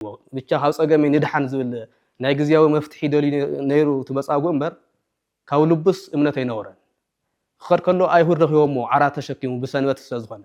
ነይርዎ። ብቻ ካብ ጸገመይ ንድሓን ዝብል ናይ ግዝያዊ መፍትሒ ደልዩ ነይሩ እቲ መጻጉእ እምበር ካብ ልቡስ እምነት ኣይነበሮን። ክኸድ ከሎ ኣይሁድ ረኺቦሞ ዓራት ተሸኪሙ ብሰንበት ስለ ዝኾነ።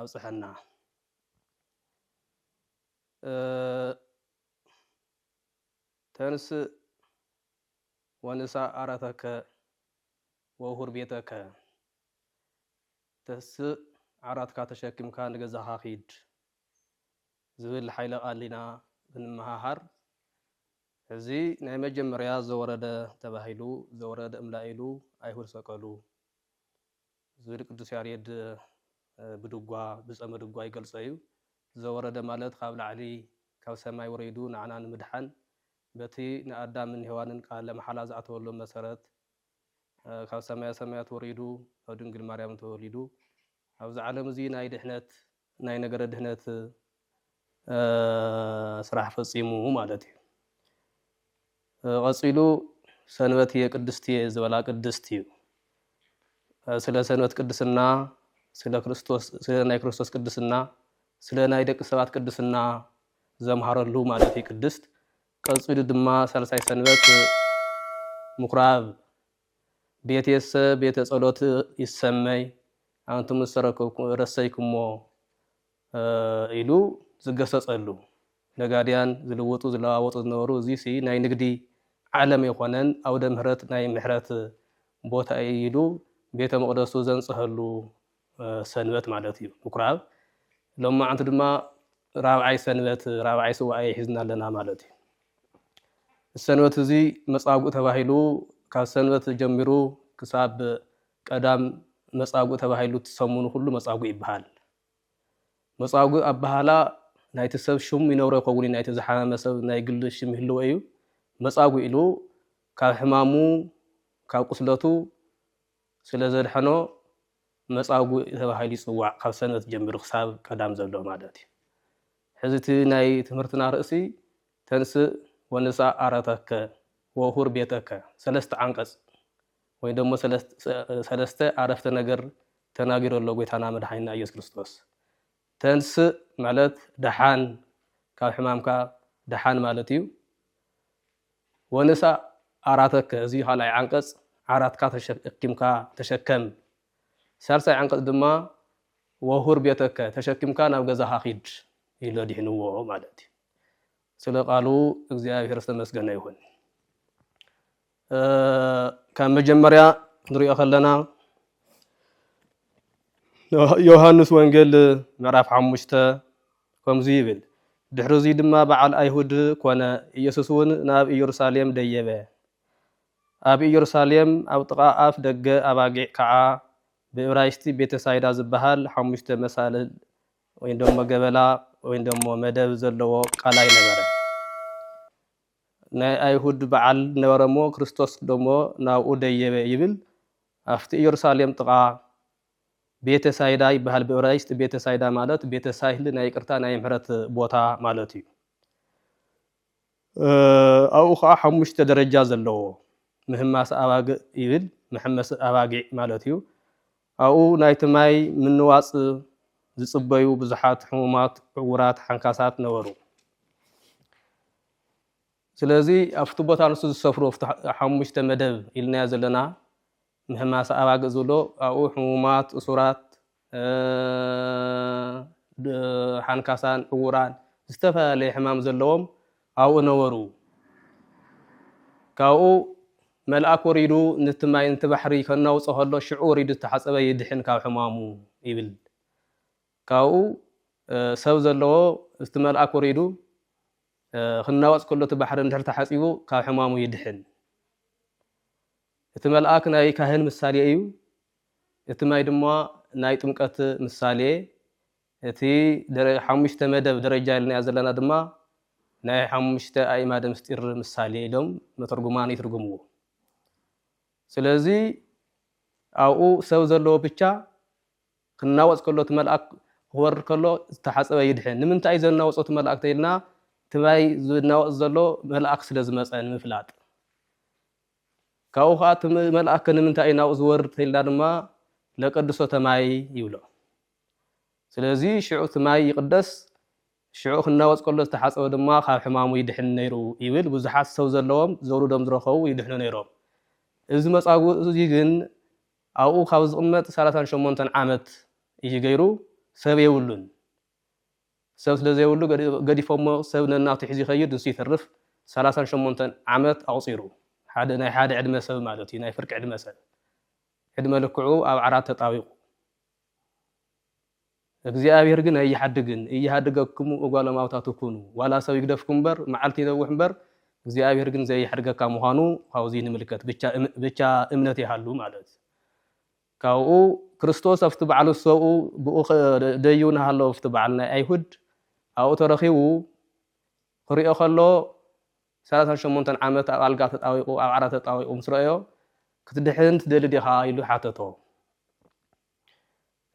ኣብፀሐና ተንስእ ወንሳእ ዓራተከ ወውሁር ቤተከ ተስእ ዓራትካ ተሸኪምካ ንገዛካ ኪድ ዝብል ሓይለ ቃል ኢና ብንመሃሃር እዚ ናይ መጀመርያ ዘወረደ ተባሂሉ ዘወረደ እምላኢሉ ኣይሁድ ሰቀሉ ዝብል ቅዱስ ያሬድ ብድጓ ብጸመ ድጓ ይገልጾ እዩ። ዘወረደ ማለት ካብ ላዕሊ ካብ ሰማይ ወሪዱ ንዓና ንምድሓን በቲ ንኣዳምን ሄዋንን ቃለ መሓላ ዝኣተወሎም መሰረት ካብ ሰማየ ሰማያት ወሪዱ ካብ ድንግል ማርያም ተወሊዱ ኣብዚ ዓለም እዚ ናይ ድሕነት ናይ ነገረ ድህነት ስራሕ ፈጺሙ ማለት እዩ። ቐጺሉ ሰንበትየ ቅድስትየ ዝበላ ቅድስት እዩ። ስለ ሰንበት ቅድስና፣ ስለ ክርስቶስ ስለ ናይ ክርስቶስ ቅድስና፣ ስለ ናይ ደቂ ሰባት ቅድስና ዘምሃረሉ ማለት እዩ ቅድስት። ቀጺሉ ድማ ሳልሳይ ሰንበት ምኵራብ ቤትየሰ ቤተ ጸሎት ይሰመይ፣ ኣንቱም ዝረሰይኩምዎ ኢሉ ዝገሰጸሉ፣ ነጋድያን ዝልውጡ ዝለዋወጡ ዝነበሩ፣ እዚሲ ናይ ንግዲ ዓለም ኣይኮነን፣ ኣውደ ምህረት ናይ ምሕረት ቦታ ኢዩ ኢሉ ቤተ መቕደሱ ዘንጸሀሉ ሰንበት ማለት እዩ ምኩራብ ሎም መዓንቲ ድማ ራብዓይ ሰንበት ራብዓይ ስዋኤ ሒዝና ኣለና ማለት እዩ ሰንበት እዚ መፃጉእ ተባሂሉ ካብ ሰንበት ጀሚሩ ክሳብ ቀዳም መፃጉእ ተባሂሉ ትሰሙኑ ኩሉ መፃጉእ ይበሃል መፃጉእ ኣበሃላ ናይቲ ሰብ ሽሙ ይነብሮ ይኸውን እዩ ናይቲ ዝሓመመ ሰብ ናይ ግሊ ሽም ይህልዎ እዩ መፃጉእ ኢሉ ካብ ሕማሙ ካብ ቁስለቱ ስለ ዘድሐኖ መጻጉእ ተባሂሉ ይጽዋዕ ካብ ሰንበት ጀምሪ ክሳብ ቀዳም ዘሎ ማለት እዩ ሕዚ እቲ ናይ ትምህርትና ርእሲ ተንስእ ወንስኣ ዓረተከ ወሁር ቤተከ ሰለስተ ዓንቀጽ ወይ ደሞ ሰለስተ ኣረፍተ ነገር ተናጊሩ ኣሎ ጎይታና መድሓኒና ኢየሱስ ክርስቶስ ተንሥእ ማለት ደሓን ካብ ሕማምካ ደሓን ማለት እዩ። ወንሣእ ዓራተከ እዚ ካልኣይ ዓንቀጽ ዓራትካ ተሸኪምካ ተሸከም። ሣልሳይ ዓንቀጽ ድማ ወሁር ቤተከ ተሸኪምካ ናብ ገዛኻ ኪድ ኢሉ ኣድሒንዎ ማለት እዩ። ስለ ቃሉ እግዚኣብሔር ዝተመስገነ ይኹን። ካብ መጀመርያ ንሪኦ ከለና ዮሃንስ ወንጌል ምዕራፍ ሓሙሽተ ከምዚ ይብል ድሕሪ እዙይ ድማ በዓል ኣይሁድ ኮነ ኢየሱስ እውን ናብ ኢየሩሳሌም ደየበ ኣብ ኢየሩሳሌም ኣብ ጥቓ ኣፍ ደገ ኣባጊዕ ከዓ ብእብራይስቲ ቤተሳይዳ ዝበሃል ሓሙሽተ መሳልል ወይ ደሞ ገበላ ወይ ደሞ መደብ ዘለዎ ቃላይ ነበረ ናይ ኣይሁድ በዓል ነበረ እሞ ክርስቶስ ደሞ ናብኡ ደየበ ይብል ኣፍቲ ኢየሩሳሌም ጥቓ ቤተ ሳይዳ ይበሃል ብእብራይስጥ ቤተ ሳይዳ ማለት ቤተ ሳይል ናይ ይቅርታ ናይ ምሕረት ቦታ ማለት እዩ ኣብኡ ከዓ ሓሙሽተ ደረጃ ዘለዎ ምህማስ ኣባግእ ይብል መሐመሲ ኣባጊዕ ማለት እዩ ኣብኡ ናይቲ ማይ ምንዋጽ ዝጽበዩ ብዙሓት ሕሙማት፣ ዕዉራት፣ ሓንካሳት ነበሩ። ስለዚ ኣብቲ ቦታ ንሱ ዝሰፍሮ ኣብቲ ሓሙሽተ መደብ ኢልናዮ ዘለና ምህማሰ ኣባግእ ዝብሎ ኣብኡ ሕሙማት፣ እሱራት፣ ሓንካሳን ዕዉራን ዝተፈላለየ ሕማም ዘለዎም ኣብኡ ነበሩ። ካብኡ መልኣክ ወሪዱ ንቲ ማይ ንቲ ባሕሪ ከናውጾ ከሎ ሽዑ ወሪዱ ዝተሓጸበ ይድሕን ካብ ሕማሙ ይብል ካብኡ ሰብ ዘለዎ እቲ መልኣክ ወሪዱ ክናወጽ ከሎ እቲ ባሕሪ እንድሕር ተሓጺቡ ካብ ሕማሙ ይድሕን እቲ መልኣክ ናይ ካህን ምሳሌ እዩ እቲ ማይ ድማ ናይ ጥምቀት ምሳሌ እቲ ሓሙሽተ መደብ ደረጃ ኢልናዮ ዘለና ድማ ናይ ሓሙሽተ ኣእማደ ምስጢር ምሳሌ ኢሎም መተርጉማን ይትርጉምዎ። ስለዚ ኣብኡ ሰብ ዘለዎ ብቻ ክናወጽ ከሎ እቲ መልኣክ ክወርድ ከሎ ዝተሓጸበ ይድሕን። ንምንታይ እዩ ዘናወጾ እቲ መልኣክ ተኢልና እቲ ማይ ዝናወጽ ዘሎ መልኣክ ስለ ዝመጸ ንምፍላጥ። ካብኡ ከዓ እቲ መልኣክ ንምንታይ እዩ ናብኡ ዝወርድ ተኢልና ድማ ለቀድሶተ ማይ ይብሎ። ስለዚ ሽዑ እቲ ማይ ይቕደስ፣ ሽዑ ክናወጽ ከሎ ዝተሓጸበ ድማ ካብ ሕማሙ ይድሕን ነይሩ ይብል፣ ብዙሓት ሰብ ዘለዎም ዘውርዶም ዝረኸቡ ይድሕኑ ነይሮም። እዚ መጻጉእ እዚ ግን ኣብኡ ካብ ዝቕመጥ ሰላሳን ሸሞንተን ዓመት እዩ ገይሩ፣ ሰብ የብሉን። ሰብ ስለ ዘይብሉ ገዲፎሞ ሰብ ነናቱ ሒዙ ይኸይድ ንሱ ይተርፍ፣ ሰላሳን ሸሞንተን ዓመት ኣቑጺሩ። ሓደ ናይ ሓደ ዕድመ ሰብ ማለት እዩ፣ ናይ ፍርቂ ዕድመ ሰብ። ዕድመ ልክዑ ኣብ ዓራት ተጣቢቑ። እግዚኣብሔር ግን ኣይሓድግን እይሃድገክሙ እጓለ ማውታቱ ኩኑ ዋላ ሰብ ይግደፍኩም እምበር መዓልቲ ይነውሕ እምበር እግዚኣብሔር ግን ዘይሓድገካ ምዃኑ ካብዚ ንምልከት ብቻ እምነት ይሃሉ ማለት ካብኡ ክርስቶስ ኣብቲ በዓል ሰብኡ ብኡ ደዩ ናሃለዉ ኣብቲ በዓል ናይ ኣይሁድ ኣብኡ ተረኺቡ ክሪኦ ከሎ ሰላሳን ሸሞንተን ዓመት ኣብ ኣልጋ ተጣዊቑ፣ ኣብ ዓራት ተጣዊቑ ምስ ረኣዮ፣ ክትድሕን ትደሊ ዲኻ? ኢሉ ሓተቶ።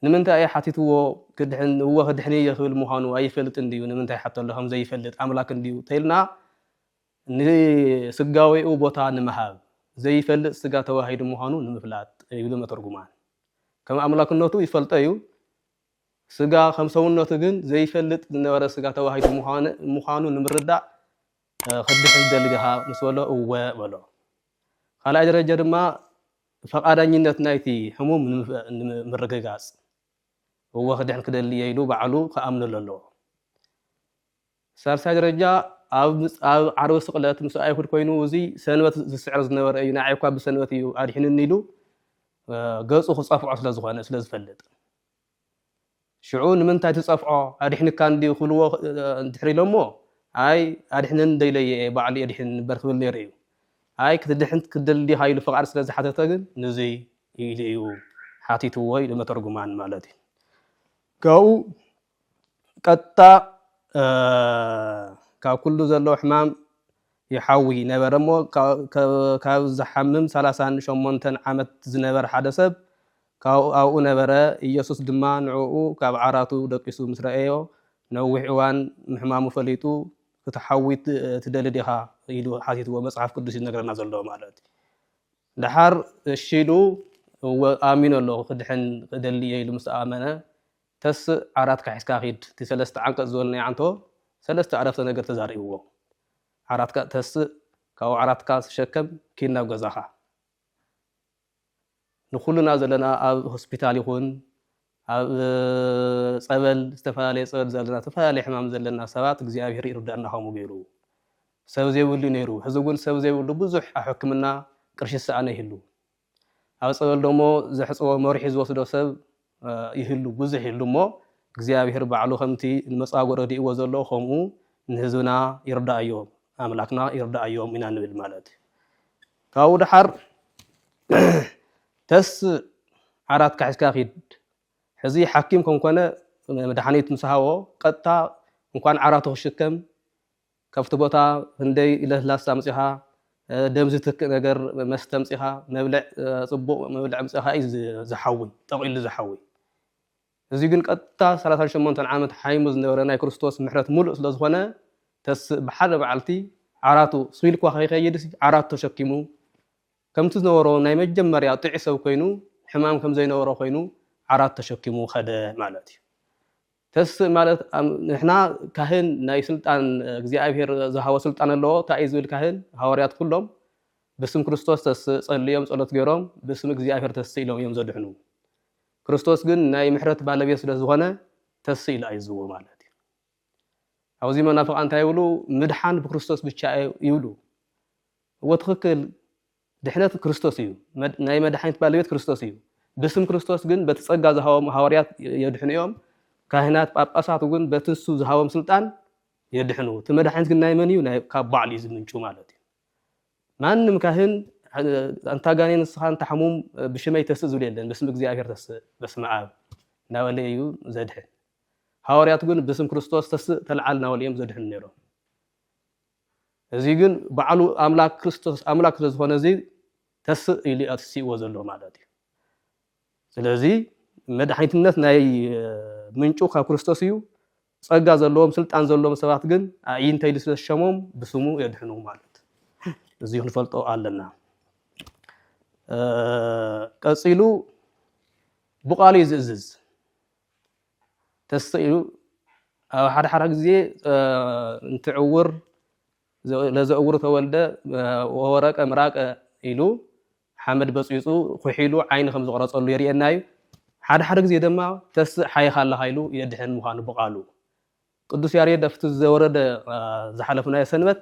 ንምንታይ እዩ ሓቲትዎ? ክድሕን እወ ክድሕን እየ ክብል ምዃኑ ኣይፈልጥን ድዩ? ንምንታይ ሓተሎ ከም ዘይፈልጥ ኣምላክ እንድዩ ተይልና ንስጋዌኡ ቦታ ንምሃብ፣ ዘይፈልጥ ስጋ ተዋሂዱ ምዃኑ ንምፍላጥ ይብሉ መተርጉማን። ከም ኣምላክነቱ ይፈልጦ እዩ፣ ስጋ ከም ሰውነቱ ግን ዘይፈልጥ ዝነበረ ስጋ ተዋሂዱ ምዃኑ ንምርዳእ ክትድሕን ትደሊ ዲኻ ምስ በሎ እወ በሎ። ካልኣይ ደረጃ ድማ ፈቓዳኝነት ናይቲ ሕሙም ንምርግጋጽ እወ ክድሕን ክደሊ እየ ኢሉ ባዕሉ ክኣምነሉ ኣለዎ። ሳልሳይ ደረጃ ኣብ ኣብ ዓርቢ ስቕለት ምስ ኣይሁድ ኮይኑ እዚ ሰንበት ዝስዕር ዝነበረ እዩ ንዓይ እኳ ብሰንበት እዩ ኣድሒኑኒ ኢሉ ገጹ ክጸፍዖ ስለ ዝኾነ ስለ ዝፈልጥ ሽዑ ንምንታይ ትጸፍዖ ኣድሕንካ እንዲ ክብልዎ ድሕሪ ኢሎሞ ኣይ ኣድሕነን ደይለየ እየ ባዕሉ የድሕን ንበር ክብል ነይሩ እዩ ኣይ ክትድሕን ክትደሊ ዲኻ ኢሉ ፍቓድ ስለ ዝሓተተ ግን ንዙይ ኢሉ እዩ ሓቲትዎ ኢሉ መተርጉማን ማለት እዩ ካብኡ ቀጥታ ካብ ኩሉ ዘለዎ ሕማም ይሓዊ ነበረ እሞ ካብ ዝሓምም ሰላሳን ሸሞንተን ዓመት ዝነበረ ሓደ ሰብ ኣብኡ ነበረ። ኢየሱስ ድማ ንዕኡ ካብ ዓራቱ ደቂሱ ምስ ረኣዮ፣ ነዊሕ እዋን ምሕማሙ ፈሊጡ፣ ክትሓዊ ትደሊ ዲኻ? ኢሉ ሓቲትዎ። መጽሓፍ ቅዱስ እዩ ዝነግረና ዘሎ ማለት እዩ። ደሓር እሺ ኢሉ እወ ኣሚኑ ኣሎ ክድሕን እደሊ እየ ኢሉ ምስ ኣመነ ተስእ ዓራትካ ሒዝካ ኪድ እቲ ሰለስተ ዓንቀጽ ዝበልናዮ ዓንቶ ሰለስተ ዕረፍተ ነገር ተዛሪብዎ ዓራትካ ተስእ ካብኡ ዓራትካ ተሸከም ኪድ ናብ ገዛካ ንኩልና ዘለና ኣብ ሆስፒታል ይኩን ኣብ ጸበል ዝተፈላለየ ጸበል ዘለና ተፈላለየ ሕማም ዘለና ሰባት እግዚኣብሔር ይርዳና ከምኡ ገይሩ ሰብ ዘይብሉ ነይሩ ሕዚ ግን ሰብ ዘይብሉ ብዙሕ ኣብ ሕክምና ቅርሺ ዝሰኣነ ይህሉ ኣብ ጸበል ዶሞ ዘሕጽቦ መሪሑ ዝወስዶ ሰብ ይህሉ ብዙሕ ይህሉ እሞ እግዚኣብሔር ባዕሉ ከምቲ ንመጻጎ ረዲእዎ ዘሎ ከምኡ ንህዝብና ይርዳኣዮ ኣምላክና ይርዳኣዮም ኢና ንብል ማለት እዩ ካብኡ ደሓር ተስ ዓራት ካሒስካ ኪድ ሕዚ ሓኪም ከምኮነ መድሓኒት ምስ ሃቦ ቀጥታ እንኳን ዓራቱ ክሽከም ካብቲ ቦታ ህንደይ ለስላሳ ኣምጺኻ ደም ዝትክእ ነገር መስተ ኣምጺኻ መብልዕ ጽቡቕ መብልዕ ኣምጺኻ እዩ ዝሓዊ ጠቒሉ ዝሓዊ እዚ ግን ቀጥታ ሰላሳን ሸሞንተን ዓመት ሓይሙ ዝነበረ ናይ ክርስቶስ ምሕረት ሙሉእ ስለ ዝኾነ ተስእ ብሓደ መዓልቲ ዓራቱ ስቢልኳ ከይከይድስ ዓራቱ ተሸኪሙ ከምቲ ዝነበሮ ናይ መጀመርያ ጥዑይ ሰብ ኮይኑ ሕማም ከም ዘይነበሮ ኮይኑ ዓራት ተሸኪሙ ከደ ማለት እዩ። ተስእ ማለት ንሕና ካህን ናይ ስልጣን እግዚኣብሔር ዝሃቦ ስልጣን ኣለዎ እንታይ እዩ ዝብል ካህን ሃዋርያት ኩሎም ብስም ክርስቶስ ተስእ ጸልዮም ጸሎት ገይሮም ብስም እግዚኣብሔር ተስእ ኢሎም እዮም ዘድሕኑ ክርስቶስ ግን ናይ ምሕረት ባለቤት ስለ ዝኾነ ተስእ ኢሉ ኣይዝዎ ማለት እዩ ኣብዚ መናፍቃን እንታይ ይብሉ ምድሓን ብክርስቶስ ብቻ ይብሉ እዎ ትክክል ድሕነት ክርስቶስ እዩ፣ ናይ መድሓኒት ባለቤት ክርስቶስ እዩ፣ ብስም ክርስቶስ ግን በቲ ጸጋ ዝሃቦም ሃዋርያት የድሕኑ እዮም፣ ካህናት ጳጳሳት እውን በቲ ንሱ ዝሃቦም ስልጣን የድሕኑ፣ እቲ መድሓኒት ግን ናይ መን እዩ ናይ ካብ ባዕሉ እዩ ዝምንጩ ማለት እዩ፣ ማንም ካህን ኣንታ ጋኔን ንስኻ ኣንታ ሕሙም ብሽመይ ተስእ ዝብል የለን ብስም እግዚኣብሔር ተስእ በስመ ኣብ እናበለ እዩ ዘድሕን ሃዋርያት ግን ብስም ክርስቶስ ተስእ ተልዓል እናበሉ እዮም ዘድሕኑ ነይሮም እዚ ግን ባዕሉ ኣምላክ ክርስቶስ ኣምላክ ስለ ዝኮነ እዚ ተስእ ኢሉ ኣትሲእዎ ዘሎ ማለት እዩ ስለዚ መድሓኒትነት ናይ ምንጩ ካብ ክርስቶስ እዩ ጸጋ ዘለዎም ስልጣን ዘለዎም ሰባት ግን ኣዒንተ ኢሉ ስለ ዝሸሞም ብስሙ የድሕኑ ማለት እዚ ክንፈልጦ ኣለና ቀጺሉ ብቃሉ እዩ ዝእዝዝ ተሰኢኑ ኣብ ሓደ ሓደ ግዜ እንትዕውር ለዘእውሩ ተወልደ ወወረቀ ምራቀ ኢሉ ሓመድ በፅቢፁ ኩሒሉ ዓይኒ ከም ዝቕረፀሉ የርእየና እዩ። ሓደ ሓደ ግዜ ድማ ተስእ ሓይኻ ኣለኻ ኢሉ የድሕን ምዃኑ ብቓሉ ቅዱስ ያሬድ ኣብቲ ዘወረደ ዝሓለፍናዮ ሰንበት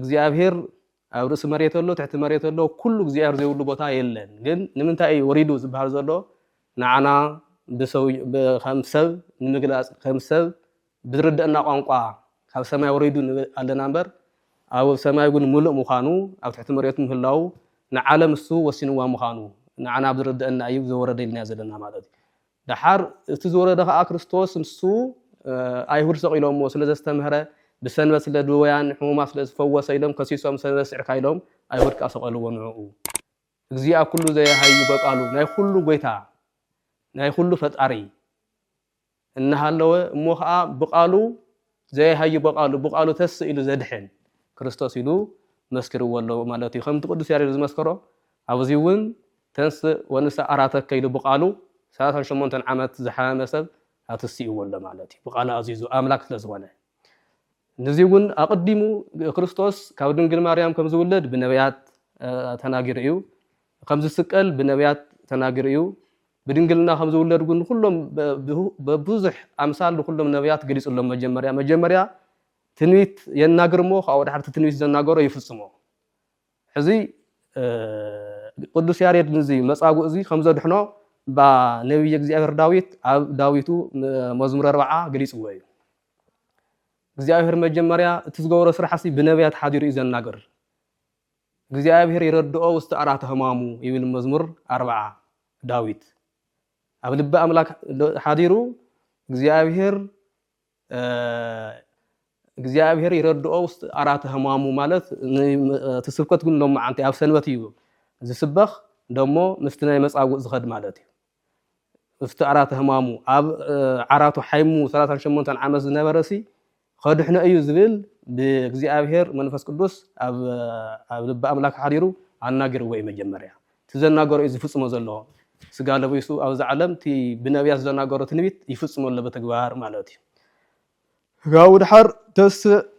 እግዚኣብሔር ኣብ ርእሲ መሬት ኣሎ ትሕቲ መሬት ኣሎ ኩሉ እግዚኣብሔር ዘይብሉ ቦታ የለን ግን ንምንታይ እዩ ወሪዱ ዝበሃል ዘሎ ንዓና ከም ሰብ ንምግላፅ ከም ሰብ ብዝርደአና ቋንቋ ካብ ሰማይ ወሪዱ ኣለና እምበር ኣብ ሰማይ ግን ሙሉእ ምዃኑ ኣብ ትሕቲ መሬት ምህላው ንዓለም እሱ ወሲንዋ ምዃኑ ንዓና ብዝርደአና እዩ ዘወረደ ኢልና ዘለና ማለት እዩ ደሓር እቲ ዝወረደ ከኣ ክርስቶስ ንሱ ኣይሁድ ሰቒሎምዎ ስለ ዘስተምህረ ብሰንበት ስለ ድወያን ሕሙማት ስለ ዝፈወሰ ኢሎም ከሲሶም ሰንበት ስዕርካ ኢሎም ኣይሁድ ከኣ ሰቐልዎ ንዕኡ እግዚኣ ኩሉ ዘየሃዩ በቃሉ ናይ ኩሉ ጎይታ ናይ ኩሉ ፈጣሪ እናሃለወ እሞ ከኣ ብቃሉ ዘይሃዩ በቃሉ ብቃሉ ተስእ ኢሉ ዘድሕን ክርስቶስ ኢሉ መስኪርዎ ኣሎ ማለት እዩ ከምቲ ቅዱስ ያሬድ ዝመስከሮ ኣብዚ እውን ተንስእ ወንሳ ኣራተከ ኢሉ ብቃሉ ሰላሳን ሸሞንተን ዓመት ዝሓመመ ሰብ ኣትስእዎ ኣሎ ማለት እዩ ብቃሉ ኣዚዙ ኣምላክ ስለዝኾነ ንዚ እውን ኣቅዲሙ ክርስቶስ ካብ ድንግል ማርያም ከም ዝውለድ ብነቢያት ተናጊሩ እዩ ከም ዝስቀል ብነቢያት ተናጊሩ እዩ ብድንግልና ከም ዝውለድ ግን ንኹሎም በብዙሕ ኣምሳል ንኹሎም ነብያት ገሊጹሎም መጀመርያ መጀመርያ ትንቢት የናግር እሞ ካብኡ ድሓርቲ ትንቢት ዘናገሮ ይፍጽሞ ሕዚ ቅዱስ ያሬድ ንዚ መጻጉእ እዚ ከም ዘድሕኖ እባ ነቢይ እግዚኣብሔር ዳዊት ኣብ ዳዊቱ መዝሙር ኣርባዓ ገሊጽዎ እዩ እግዚኣብሔር መጀመርያ እቲ ዝገበሮ ስራሕሲ ብነቢያት ሓዲሩ እዩ ዘናግር እግዚኣብሔር ይረድኦ ውስተ ዕራተ ሕማሙ ይብል መዝሙር ኣርብዓ ዳዊት ኣብ ልቢ ኣምላክ ሓዲሩ እግዚኣብሔር እግዚኣብሔር ይረድኦ ውስጥ ኣራት ህማሙ ማለት እቲ ስብከት ግን ሎመዓንቲ ኣብ ሰንበት እዩ ዝስበኽ ደሞ ምስቲ ናይ መፃጉእ ዝኸድ ማለት እዩ ምስቲ ኣራተ ህማሙ ኣብ ዓራቱ ሓይሙ ሰላሳን ሸሞንተን ዓመት ዝነበረሲ ከድሕኖ እዩ ዝብል ብእግዚኣብሔር መንፈስ ቅዱስ ኣብ ልቢ ኣምላክ ሓዲሩ ኣናገርዎ እዩ መጀመርያ እቲ ዘናገሮ እዩ ዝፍፅሞ ዘሎ ስጋ ለቢሱ ኣብዚ ዓለም እቲ ብነቢያት ዘናገሮ ትንቢት ይፍፅሞ ኣሎ በተግባር ማለት እዩ ጋው ድሓር ተስ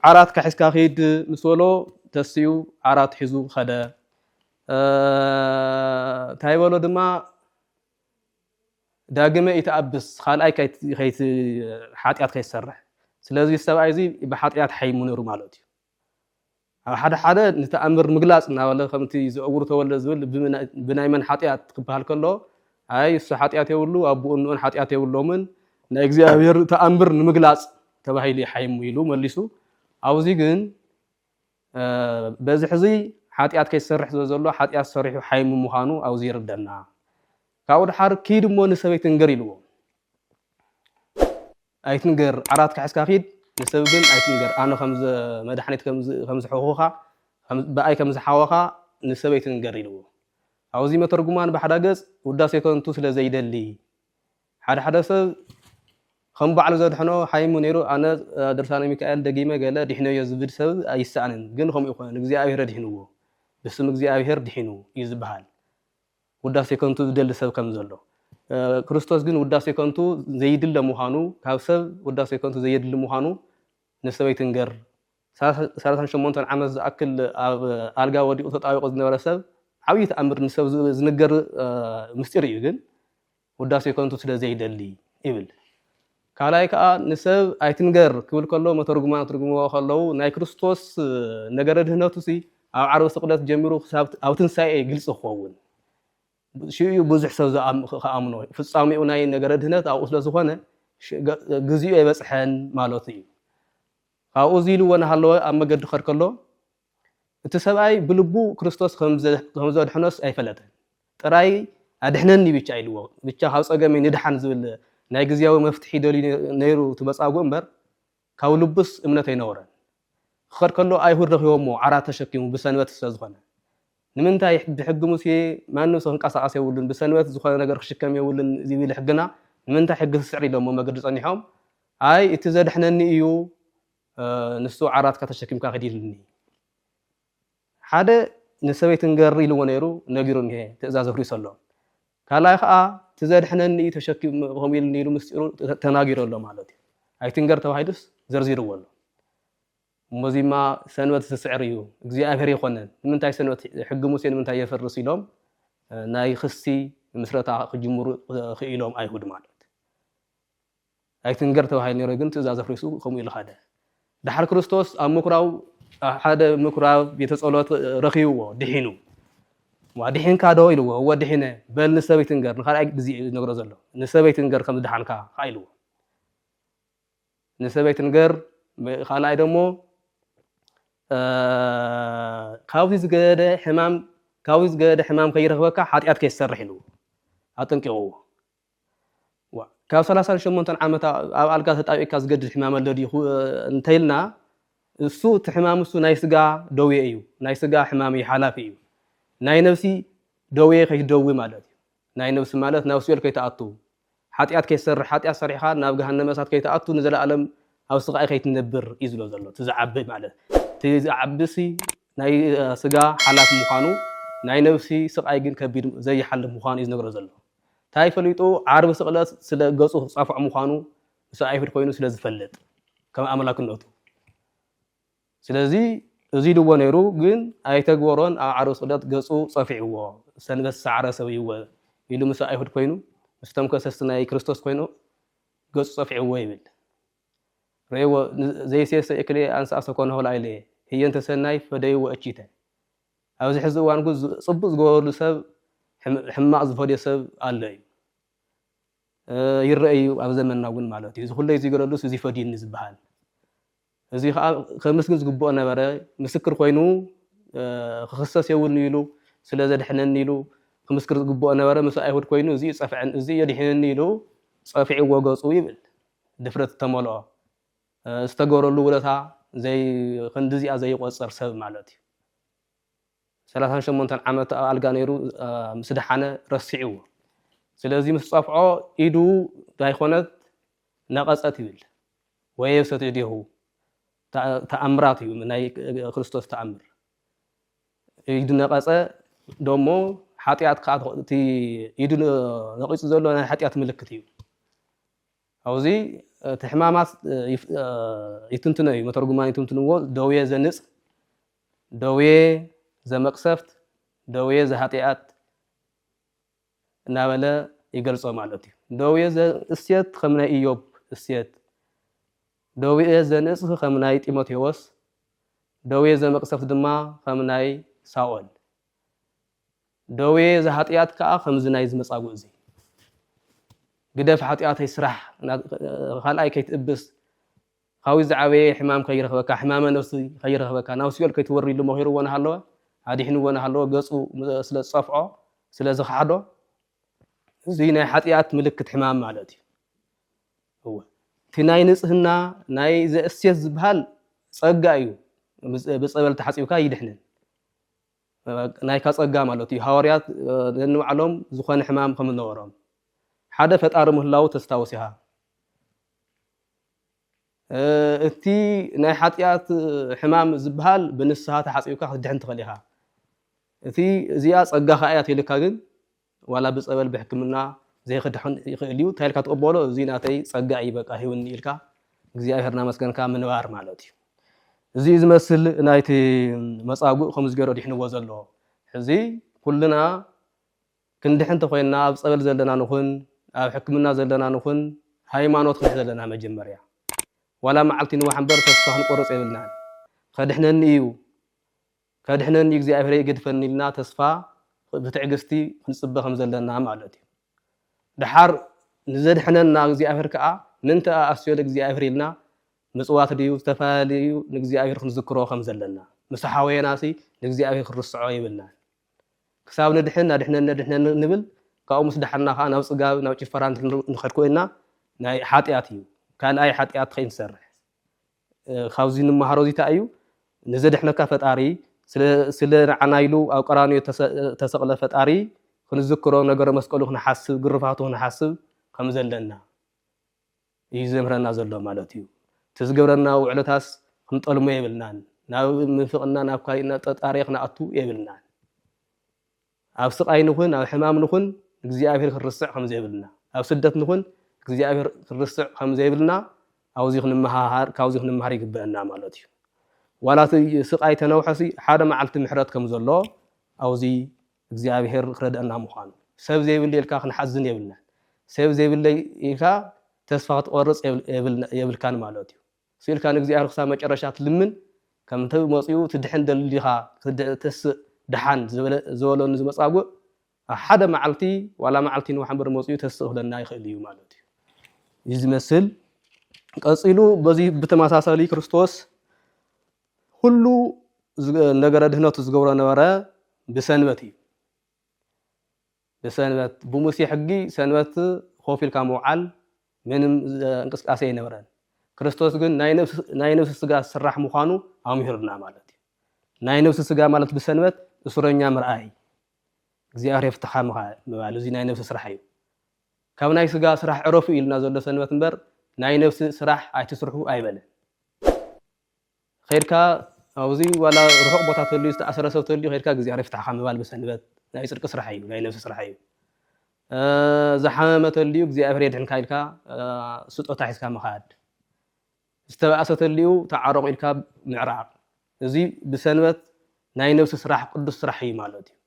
ዓራት ካሒዝካ ኪድ ምስ በሎ ተስኡ ዓራት ሒዙ ከደ እንታይ በሎ ድማ ዳግመ ይተኣብስ ካልኣይ ሓጢኣት ከይሰርሕ ስለዚ ሰብኣይ እዚ ብሓጢኣት ሓይሙ ነሩ ማለት እዩ ኣብ ሓደ ሓደ ንተኣምር ምግላፅ እናበለ ከምቲ ዘእውሩ ተወልደ ዝብል ብናይ መን ሓጢኣት ክበሃል ከሎ ኣይ እሱ ሓጢኣት የብሉ ኣቦኡን ንኡን ሓጢኣት የብሎምን ናይ እግዚኣብሔር ተኣምር ንምግላፅ ተባሂሉ ይሓይሙ ኢሉ መሊሱ ኣብዚ ግን በዚ ሕዚ ሓጢኣት ከይሰርሕ ዘዘሎ ሓጢኣት ሰሪሑ ሓይሙ ምዃኑ ኣብዚ ይርደና ካብኡ ድሓር ኪድ እሞ ንሰበይቲ ንገር ኢልዎ ኣይትንገር ዓራት ክሕዝካ ኪድ ንሰብ ግን ኣይትንገር ኣነ መድሓኒት ከምዝሕኹኻ ብኣይ ከምዝሓወኻ ንሰበይቲ ንገር ኢልዎ ኣብዚ መተርጉማን ባሕዳ ገጽ ውዳሴ ከንቱ ስለ ዘይደሊ ሓደ ሓደ ሰብ ከም ባዕሉ ዘድሕኖ ሓይሙ ነይሩ ኣነ ድርሳነ ሚካኤል ደጊመ ገለ ዲሕነዮ ዝብል ሰብ ኣይሰኣንን ግን ከምኡ ኣይኮነን እግዚኣብሔር ኣድሒንዎ ብስም እግዚኣብሔር ድሒኑ እዩ ዝብሃል ውዳሴ ከንቱ ዝደሊ ሰብ ከም ዘሎ ክርስቶስ ግን ውዳሴ ከንቱ ዘይድለ ምዃኑ ካብ ሰብ ውዳሴ ከንቱ ዘየድሊ ምዃኑ ንሰበይትንገር ሰላሳን ሸሞንተን ዓመት ዝኣክል ኣብ ኣልጋ ወዲቑ ተጣቢቑ ዝነበረ ሰብ ዓብዪ ተኣምር ንሰብ ዝንገር ምስጢር እዩ ግን ውዳሴ ከንቱ ስለ ዘይደሊ ይብል። ካልኣይ ከዓ ንሰብ ኣይትንገር ክብል ከሎ መተርጉማን ትርጉምዎ ከለዉ ናይ ክርስቶስ ነገረ ድህነቱ ሲ ኣብ ዓርቢ ስቅለት ጀሚሩ ክሳብ ኣብ ትንሳኤ ግልፂ ክኸውን ሽኡ እዩ ብዙሕ ሰብ ክኣምኖ ፍፃሜኡ ናይ ነገረ ድህነት ኣብኡ ስለዝኾነ ግዚኡ ኣይበፅሐን ማለቱ እዩ ካብኡ እዚ ኢሉዎ እናሃለወ ኣብ መገዲ ክኸድ ከሎ፣ እቲ ሰብኣይ ብልቡ ክርስቶስ ከም ዘድሕኖስ ኣይፈለጠን። ጥራይ ኣድሕነኒ ብቻ ኢሉዎ፣ ብቻ ካብ ጸገመይ ንድሓን ዝብል ናይ ግዝያዊ መፍትሒ ደልዩ ነይሩ እቲ መጻጉእ እምበር ካብ ልቡስ እምነት ኣይነበሮን። ክኸድ ከሎ ኣይሁድ ረኺቦሞ ዓራት ተሸኪሙ ብሰንበት ስለ ዝኾነ። ንምንታይ ብሕጊ ሙሴ ማንም ሰብ ክንቀሳቀስ የብሉን ብሰንበት ዝኾነ ነገር ክሽከም የብሉን ዝብል ሕግና ንምንታይ ሕጊ ትስዕር ኢሎሞ መገዲ ጸኒሖም ኣይ እቲ ዘድሕነኒ እዩ ንሱ ዓራትካ ተሸኪምካ ኪድ ኢሉኒ ሓደ ንሰበይቲ ንገሪ ኢልዎ ነይሩ ነጊሩ እኒሀ ትእዛዝ ኣፍሪሱ ኣሎ ካልኣይ ከዓ እቲ ዘድሕነኒ እዩ ተሸኪሙ ከምኡ ኢሉኒ ኢሉ ምስጢሩ ተናጊሩ ኣሎ ማለት እዩ ኣይትንገር ተባሂሉስ ዘርዚርዎ ኣሎ እሞዚማ ሰንበት ዝስዕር እዩ እግዚኣብሔር ይኮነን ንምንታይ ሰንበት ሕጊ ሙሴ ንምንታይ የፈርስ ኢሎም ናይ ክሲ ምስረታ ክጅምሩ ክኢሎም ኣይሁድ ማለት ኣይትንገር ተባሂሉ ነይሩ ግን ትእዛዝ ኣፍሪሱ ከምኡ ኢሉ ኻደ። ደሓር ክርስቶስ ኣብ ምኵራብ ኣብ ሓደ ምኵራብ ቤተ ጸሎት ረኺብዎ ድሒኑ ዋ ድሒንካ ዶ ኢልዎ እወ ድሒነ በል ንሰበይ ትንገር ንኻልኣይ ግዜ እዩ ዝነግሮ ዘሎ ንሰበይ ትንገር ከም ዝደሓንካ ከዓ ኢልዎ ንሰበይ ትንገር ካልኣይ ደሞ ካብዚ ዝገደ ሕማም ካብዚ ዝገደ ሕማም ከይረኽበካ ሓጢኣት ከይትሰርሕ ኢልዎ ኣጠንቂቕዎ ዋእ ካብ ሰላሳን ሸሞንተን ዓመት ኣብ ኣልጋ ተጣቢቕካ ዝገድል ሕማም ኣሎ ድዩ ክብ- እንተኢልና እሱ እቲ ሕማም እሱ ናይ ስጋ ደዌ እዩ ናይ ስጋ ሕማም እዩ ሓላፊ እዩ ናይ ነብሲ ደዌ ከይትደዊ ማለት እዩ ናይ ነብሲ ማለት ናብ ሲኦል ከይትኣቱ ሓጢኣት ከይትሰርሕ ሓጢኣት ሰሪሕኻ ናብ ገሃነመ እሳት ከይትኣቱ ንዘለኣለም ኣብ ስቓይ ከይትነብር እዩ ዝብሎ ዘሎ እቲ ዝዓቢ ማለት እቲ ዝዓቢሲ ናይ ስጋ ሓላፊ ምዃኑ ናይ ነብሲ ስቓይ ግን ከቢድ ዘይሓልፍ ምዃኑ እዩ ዝነግሮ ዘሎ ታይ ፈሊጡ ዓርቢ ስቕለት ስለ ገጹ ክጻፎዕ ምዃኑ ምስ ኣይሁድ ኮይኑ ስለ ዝፈልጥ ከም ኣምላክነቱ ስለዚ እዚ ኢልዎ ነይሩ ግን ኣይተግበሮን ኣብ ዓርቢ ስቕለት ገጹ ጸፊዕዎ ሰንበት ሳዕረ ሰብይወ ኢሉ ምስ ኣይሁድ ኮይኑ ምስቶም ከሰስቲ ናይ ክርስቶስ ኮይኑ ገጹ ጸፊዕዎ ይብል ሬዎ ዘይሴሰ እክሌ ኣንሳ ሰኮነ ሆላ ኢሌ ህየንተ ሰናይ ፈደይዎ እቺተ ኣብዚ ሕዚ እዋን ግን ፅቡቅ ዝገበረሉ ሰብ ሕማቅ ዝፈድዮ ሰብ ኣሎ እዩ ይረእ እዩ ኣብ ዘመንና እውን ማለት እዩ እዚ ኩለይ እዙይ ገረሉስ እዙይ ፈድዩኒ ዝበሃል እዙይ ከዓ ከምስግን ዝግብኦ ነበረ ምስክር ኮይኑ ክኽሰስ የብሉን ኢሉ ስለ ዘድሐነኒ ኢሉ ክምስክር ዝግብኦ ነበረ ምስ ኣይሁድ ኮይኑ እዙይ ፀፍዐን እዙይ የድሒንኒ ኢሉ ፀፊዕዎ ገፁ ይብል ድፍረት ዝተመልኦ ዝተገበረሉ ውለታ ዘይ ክንድዚኣ ዘይቆጽር ሰብ ማለት እዩ ሰላሳን ሸሞንተን ዓመት ኣብ ኣልጋ ነይሩ ምስ ደሓነ ረሲዕዎ ስለዚ ምስ ጸፍዖ ኢዱ ዳይኮነት ነቐጸት ይብል ወየብሰት እዴሁ ተኣምራት እዩ ናይ ክርስቶስ ተኣምር ኢዱ ነቐጸ ደሞ ሓጢኣት ከዓ እቲ ኢዱ ነቒጹ ዘሎ ናይ ሓጢኣት ምልክት እዩ ኣብዚ እቲ ሕማማት ይትንትኖ እዩ፣ መተርጉማን ይትንትንዎ፣ ደዌ ዘንጽ፣ ደዌ ዘመቅሰፍት፣ ደዌ ዘኃጢኣት እናበለ ይገልጾ ማለት እዩ። ደዌ ዘእሴት ከም ናይ እዮብ እሴት፣ ደዌ ዘንጽ ከም ናይ ጢሞቴዎስ፣ ደዌ ዘመቅሰፍት ድማ ከም ናይ ሳኦል ደዌ እዚ ኃጢኣት ከኣ ከምዚ ናይዚ መጻጉእ እዚ ግደፍ ኃጢኣተይ ስራሕ ካልኣይ ከይትእብስ ኻዊት ዝዓበየ ሕማም ከይረኽበካ ሕማመ ነፍሲ ከይረኽበካ ናብ ሲኦል ከይትወሪ ኢሉ መኺርዎ ናሃለወ ኣዲሕንዎ ናሃለወ ገጹ ስለ ዝጸፍዖ ስለ ዝኸሓዶ እዚ ናይ ኃጢኣት ምልክት ሕማም ማለት እዩ እወ እቲ ናይ ንጽህና ናይ ዘእሴት ዝበሃል ጸጋ እዩ ብጸበል ተሓጺብካ ይድሕንን ናይካ ጸጋ ማለት እዩ ሃዋርያት ነንባዕሎም ዝኾነ ሕማም ከም ዝነበሮም ሓደ ፈጣሪ ምህላው ተስታውስ ኢኻ እቲ ናይ ሓጢኣት ሕማም ዝበሃል ብንስሃ ተሓፂብካ ክትድሕን ትኽእል ኢኻ እቲ እዚኣ ፀጋ ከዓ እያ ተልካ ግን ዋላ ብጸበል ብሕክምና ዘይክድሕን ይክእል እዩ እንታይ ኢልካ ትቅበሎ እዚ ናተይ ጸጋ እዩ በቃ ሂውኒ ኢልካ እግዚኣብሔር እናመስገንካ ምንባር ማለት እዩ እዚ እዩ ዝመስል ናይቲ መጻጉእ ከምዚ ገይሮ ዲሕንዎ ዘሎ ሕዚ ኩልና ክንድሕን እንተኮይንና ኣብ ጸበል ዘለና ንኹን ኣብ ሕክምና ዘለና ንኹን ሃይማኖት ክንሕ ዘለና መጀመርያ ዋላ መዓልቲ ንዋሕ እምበር ተስፋ ክንቆርጽ የብልናን ከድሕነኒ እዩ ከድሕነኒ እግዚኣብሄረይ ኣይገድፈኒ ኢልና ተስፋ ብትዕግስቲ ክንጽበ ከም ዘለና ማለት እዩ። ደሓር ንዘድሕነና እግዚኣብሄር ከኣ ምንተ እኣስዮ ለእግዚኣብሄር ኢልና ምጽዋት ድዩ ዝተፈላለዩ ንእግዚኣብሄር ክንዝክሮ ከም ዘለና ምስ ሓወየናሲ ንእግዚኣብሄር ክንርስዖ የብልናን ክሳብ ንድሕን ኣድሕነኒ ኣድሕነኒ ንብል ካብኡ ምስ ደሓና ከኣ ናብ ጽጋብ ናብ ጭፈራ ንኸድ ኮይና ናይ ሓጢኣት እዩ ካልኣይ ሓጢኣት ከይንሰርሕ ካብዚ እንመሃሮ እዚ ታይ እዩ ንዘድሕነካ ፈጣሪ ስለ ንዓና ኢሉ ኣብ ቀራንዮ ተሰቅለ ፈጣሪ ክንዝክሮ ነገረ መስቀሉ ክንሓስብ ግርፋቱ ክንሓስብ ከምዘለና እዩ ዘምህረና ዘሎ ማለት እዩ እቲ ዝገብረና ውዕለታስ ክንጠልሞ የብልናን ናብ ምንፍቅና ናብ ካሊእ ናብ ጠጣርየ ክንኣቱ የብልናን። ኣብ ስቓይ ንኹን ኣብ ሕማም ንኹን እግዚኣብሔር ክንርስዕ ከም ዘይብልና፣ ኣብ ስደት ንኹን እግዚኣብሔር ክንርስዕ ከም ዘይብልና ኣብዙይ ክንመሃሃር ካብዙይ ክንመሃር ይግበእና ማለት እዩ። ዋላ እቲ ስቓይ ተነውሐሲ ሓደ መዓልቲ ምሕረት ከም ዘሎ ኣብዙይ እግዚኣብሔር ክረድአና ምዃኑ ሰብ ዘይብለይ ኢልካ ክንሓዝን የብልናን። ሰብ ዘይብለይ ኢልካ ተስፋ ክትቆርፅ የብልካን ማለት እዩ። ስኢልካ ንእግዚኣብሔር ክሳብ መጨረሻ ትልምን ከም እቲ መጺኡ ትድሕን ደሊ ዲኻ ክትተስእ ደሓን ዝበለኒ እዚ መጻጉእ ኣብ ሓደ መዓልቲ ዋላ መዓልቲ ንዋሕ እምበር መጺኡ ተስእ ክብለና ይኽእል እዩ ማለት እዩ እዩ ዝመስል ቀጺሉ በዚ ብተመሳሳሊ ክርስቶስ ኩሉ ነገረ ድህነቱ ዝገብሮ ነበረ ብሰንበት እዩ ንሰንበት ብሙሴ ሕጊ ሰንበት ኮፍ ኢልካ ምውዓል ምንም እንቅስቃሴ ኣይነበረን ክርስቶስ ግን ናይ ነብሲ ስጋ ስራሕ ምዃኑ ኣምሂሩና ማለት እዩ ናይ ነብሲ ስጋ ማለት ብሰንበት እሱረኛ ምርኣይ እግዚኣብሔር የፍትሓ ምባል እዚ ናይ ነብሲ ስራሕ እዩ ካብ ናይ ስጋ ስራሕ ዕረፉ ኢልና ዘሎ ሰንበት እምበር ናይ ነብሲ ስራሕ ኣይትስርሑ ኣይበለን ከይድካ ኣብዚ ዋላ ርሑቕ ቦታ ተልዩ ዝተኣሰረ ሰብ ተልዩ ከይድካ ግዝያር ይፍታሕኻ ምባል ብሰንበት ናይ ጽድቂ ስራሕ እዩ ናይ ነብሲ ስራሕ እዩ ዝሓመመ ተልዩ እግዚኣብሔር የድሕንካ ኢልካ ስጦታ ሒዝካ ምኻድ ዝተባእሰ ተልዩ ተዓረቑ ኢልካ ምዕራቕ እዚ ብሰንበት ናይ ነብሲ ስራሕ ቅዱስ ስራሕ እዩ ማለት እዩ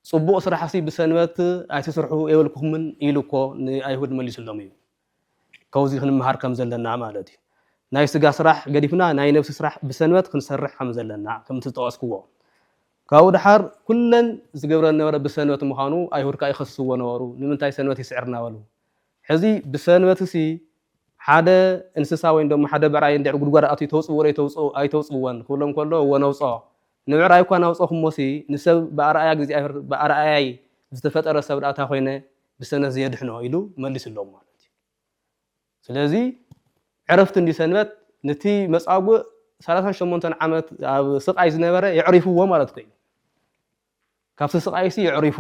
ጽቡቕ ስራሕሲ ብሰንበት ኣይትስርሑ የብልኩምን ኢሉ እኮ ንኣይሁድ መሊሱሎም እዩ። ከውዚ ክንመሃር ከም ዘለና ማለት እዩ። ናይ ስጋ ስራሕ ገዲፍና ናይ ነብሲ ስራሕ ብሰንበት ክንሰርሕ ከም ዘለና ከምቲ ዝጠቐስክዎ። ካብኡ ደሓር ኩለን ዝገብረን ዝነበረ ብሰንበት ምዃኑ ኣይሁድ ከኣ ይኸስስዎ ነበሩ። ንምንታይ ሰንበት ይስዕርና በሉ። ሕዚ ብሰንበትሲ ሓደ እንስሳ ወይም ደሞ ሓደ ብዕራይ እንድሕር ጉድጓድ ኣትዩ ተውጽእዎ ዶ ኣይተውጽእዎን ክብሎም ከሎ እወ ነውጽኦ። ንምዕራይ እኳ እናውጸኹሞሲ ንሰብ ብኣርኣያ እግዚኣብሔር ብኣርኣያይ ዝተፈጠረ ሰብ ድኣ እንታይ ኮይነ ብሰነት ዘየድሕኖ ኢሉ መሊሱሎም ማለት እዩ ስለዚ ዕረፍቲ እንዲ ሰንበት ነቲ መጻጉእ ሰላሳን ሸሞንተን ዓመት ኣብ ስቃይ ዝነበረ የዕሪፍዎ ማለት ኮይኑ ካብቲ ስቃይሲ የዕሪፉ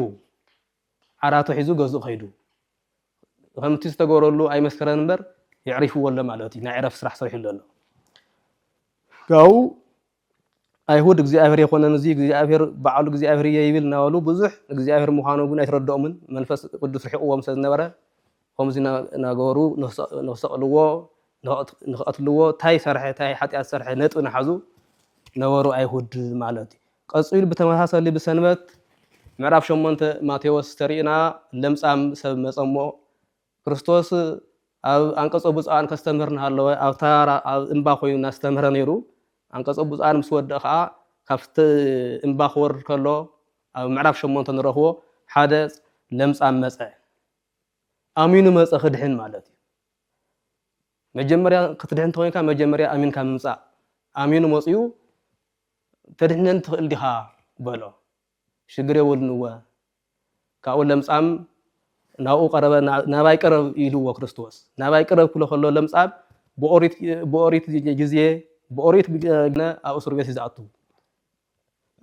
ዓራቱ ሒዙ ገዝኡ ከይዱ ከምቲ ዝተገበረሉ ኣይመስከረን እምበር የዕሪፍዎ ኣሎ ማለት እዩ ናይ ዕረፍቲ ስራሕ ሰሪሑ ኣሎ ካብኡ ኣይሁድ እግዚኣብሔር የኮነን እዙይ እግዚኣብሔር በዓሉ እግዚኣብሔር እየ ይብል እናበሉ ብዙሕ እግዚኣብሔር ምዃኑ ግን ኣይተረድኦምን መንፈስ ቅዱስ ርሒቕዎም ስለዝነበረ ከምዚ እናገበሩ ንክሰቕልዎ ንክቐትልዎ ታይ ሰርሐ ታይ ሓጢኣት ሰርሐ ነጥቢ ናሓዙ ነበሩ ኣይሁድ ማለት እዩ ቀፂሉ ብተመሳሰሊ ብሰንበት ምዕራፍ ሸሞንተ ማቴዎስ ተሪእና ለምፃም ሰብ መፀሞ ክርስቶስ ኣብ ኣንቀጾ ብፁዓን ከስተምህር እናሃለወ ኣብ ተራራ ኣብ እምባ ኮይኑ እናስተምህረ ነይሩ። ኣንቀጾ ብፁዓን ምስ ወድእ ከኣ ካብቲ እምባ ክወርድ ከሎ ኣብ ምዕራፍ ሸሞንተ ንረኽቦ ሓደ ለምጻም መጸ። ኣሚኑ መጸ ክድሕን ማለት እዩ። መጀመርያ ክትድሕን ተኮይንካ መጀመርያ ኣሚንካ ምምጻእ። ኣሚኑ መጽኡ ተድሕነኒ ትኽእል ዲኻ በሎ። ሽግር የወልንወ ካብኡ ለምጻም ናብኡ ቀረበ ናባይ ቅረብ ኢልዎ ክርስቶስ ናባይ ቅረብ ክሎ ከሎ ለምጻም ብኦሪት ግዜ ብኦሪት ግነ ኣብ እስር ቤት ዝኣቱ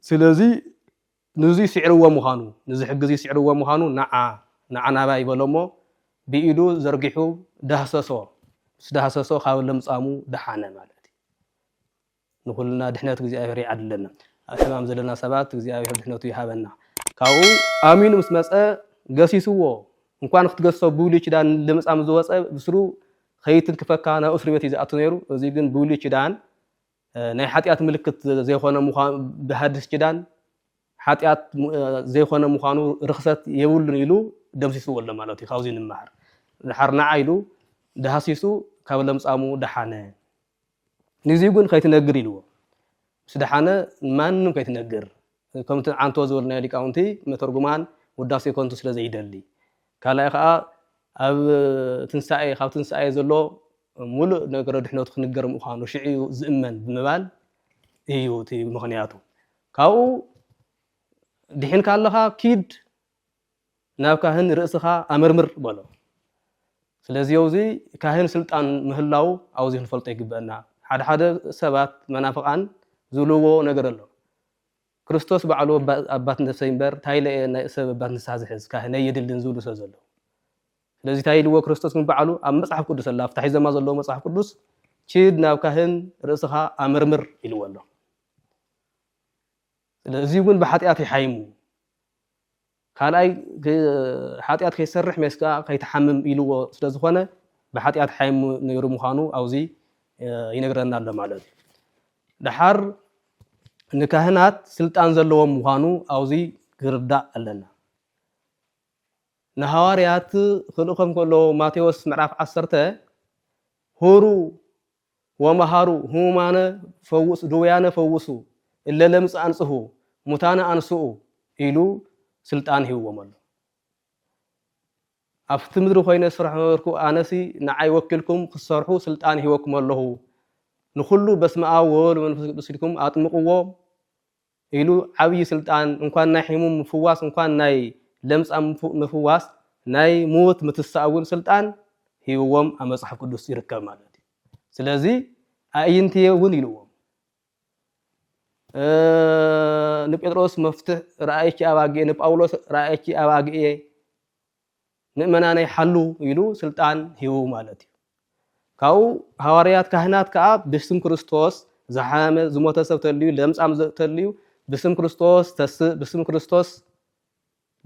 ስለዚ ንዙይ ስዕርዎ ምዃኑ ንዚ ሕጊ እዚ ስዕርዎ ምዃኑ ንዓ ንዓ ናባይ በሎ እሞ ብኢዱ ዘርጊሑ ዳህሰሶ ምስ ዳህሰሶ ካብ ለምጻሙ ደሓነ ማለት እዩ ንኹልና ድሕነት እግዚኣብሔር ይዓድለና። ኣብ ሕማም ዘለና ሰባት እግዚኣብሔር ድሕነቱ ይሃበና። ካብኡ ኣሚኑ ምስ መጸ ገሲስዎ እንኳን ክትገሶ ብብሉይ ኪዳን ለምጻም ዝወጸ ብስሩ ከይትንክፈካ ናብ እስሩ ቤት እዩ ዝኣቱ ነይሩ። እዚ ግን ብብሉይ ኪዳን ናይ ሓጢኣት ምልክት ዘይኮነ ምዃኑ ብሃድስ ኪዳን ሓጢኣት ዘይኮነ ምዃኑ ርክሰት የብሉን ኢሉ ደምሲስዎ ኣሎ ማለት እዩ ካብዚ ንመሃር ድሓር ንዓ ኢሉ ዳሃሲሱ ካብ ለምጻሙ ደሓነ ንግዚኡ ግን ከይትነግር ኢልዎ ምስ ደሓነ ንማንም ከይትነግር ከምቲ ዓንቶ ዝበልናዮ ሊቃውንቲ መተርጉማን ውዳሴ ከንቱ ስለ ዘይደሊ ካልኣይ ከዓ ኣብ ትንሳኤ ካብ ትንሳኤ ዘሎ ሙሉእ ነገረ ድሕነቱ ክንገር ምዃኑ ሽዑ እዩ ዝእመን ብምባል እዩ እቲ ምኽንያቱ ካብኡ ድሒንካ ኣለኻ ኪድ ናብ ካህን ርእስኻ ኣመርምር በሎ። ስለዚ ኣውዚ ካህን ስልጣን ምህላው ኣውዚ ክንፈልጦ ይግበእና። ሓደ ሓደ ሰባት መናፍቃን ዝብልዎ ነገር ኣሎ። ክርስቶስ ባዕሉ ኣባት ነፍሰይ እምበር ታይ ኢለ እየ ናይ ሰብ ኣባት ንስሓ ዝሕዝ ካህነይ የድልን ዝብሉ ሰብ ዘለዉ። ስለዚ ታይ ኢልዎ ክርስቶስ ግን ባዕሉ ኣብ መጽሓፍ ቅዱስ ኣላ ኣብታ ሒዘማ ዘለዎ መጽሓፍ ቅዱስ ኪድ ናብ ካህን ርእስኻ ኣመርምር ኢልዎ ኣሎ። ስለ እዚዩ ግን ብሓጢኣት ይሓይሙ። ካልኣይ ሓጢኣት ከይሰርሕ ሜስ ከኣ ከይትሓምም ኢልዎ ስለ ዝኾነ ብሓጢኣት ሓይሙ ነይሩ ምዃኑ ኣብዚ ይነግረና ኣሎ ማለት እዩ። ደሓር ንካህናት ስልጣን ዘለዎም ምዃኑ ኣብዚ ክርዳእ ኣለና። ንሃዋርያት ክልእኾም ከሎ ማቴዎስ ምዕራፍ ዓሰርተ ሁሩ ወመሃሩ ህሙማነ ፈውሱ ድውያነ ፈውሱ እለ ለምጽ ኣንጽሁ ሙታነ ኣንስኡ ኢሉ ስልጣን ሂብዎም ኣሎ። ኣብቲ ምድሪ ኮይነ ዝሰርሖ ነበርኩ ኣነሲ ንዓይ ወኪልኩም ክትሰርሑ ስልጣን ሂበኩም ኣለኹ ንኹሉ በስመ ኣብ ወወልድ ወመንፈስ ቅዱስ ኢልኩም ኣጥምቕዎ ኢሉ ዓብይ ስልጣን እንኳን ናይ ሒሙም ምፍዋስ እንኳን ናይ ለምጻም ምፍዋስ ናይ ሙውት ምትሳእ እውን ስልጣን ሂብዎም ኣብ መጽሓፍ ቅዱስ ይርከብ ማለት እዩ ስለዚ ኣእይንትየ እውን ኢልዎም ንጴጥሮስ መፍትሕ ራእይኪ ኣባግኤ ንጳውሎስ ራእይኪ ኣባግኤ ምእመናነይ ሓሉ ኢሉ ስልጣን ሂቡ ማለት እዩ። ካብኡ ሃዋርያት ካህናት ከኣ ብስም ክርስቶስ ዝሓመመ ዝሞተ ሰብ ተልዩ ለምጻም ተልዩ ብስም ክርስቶስ ተስእ ብስም ክርስቶስ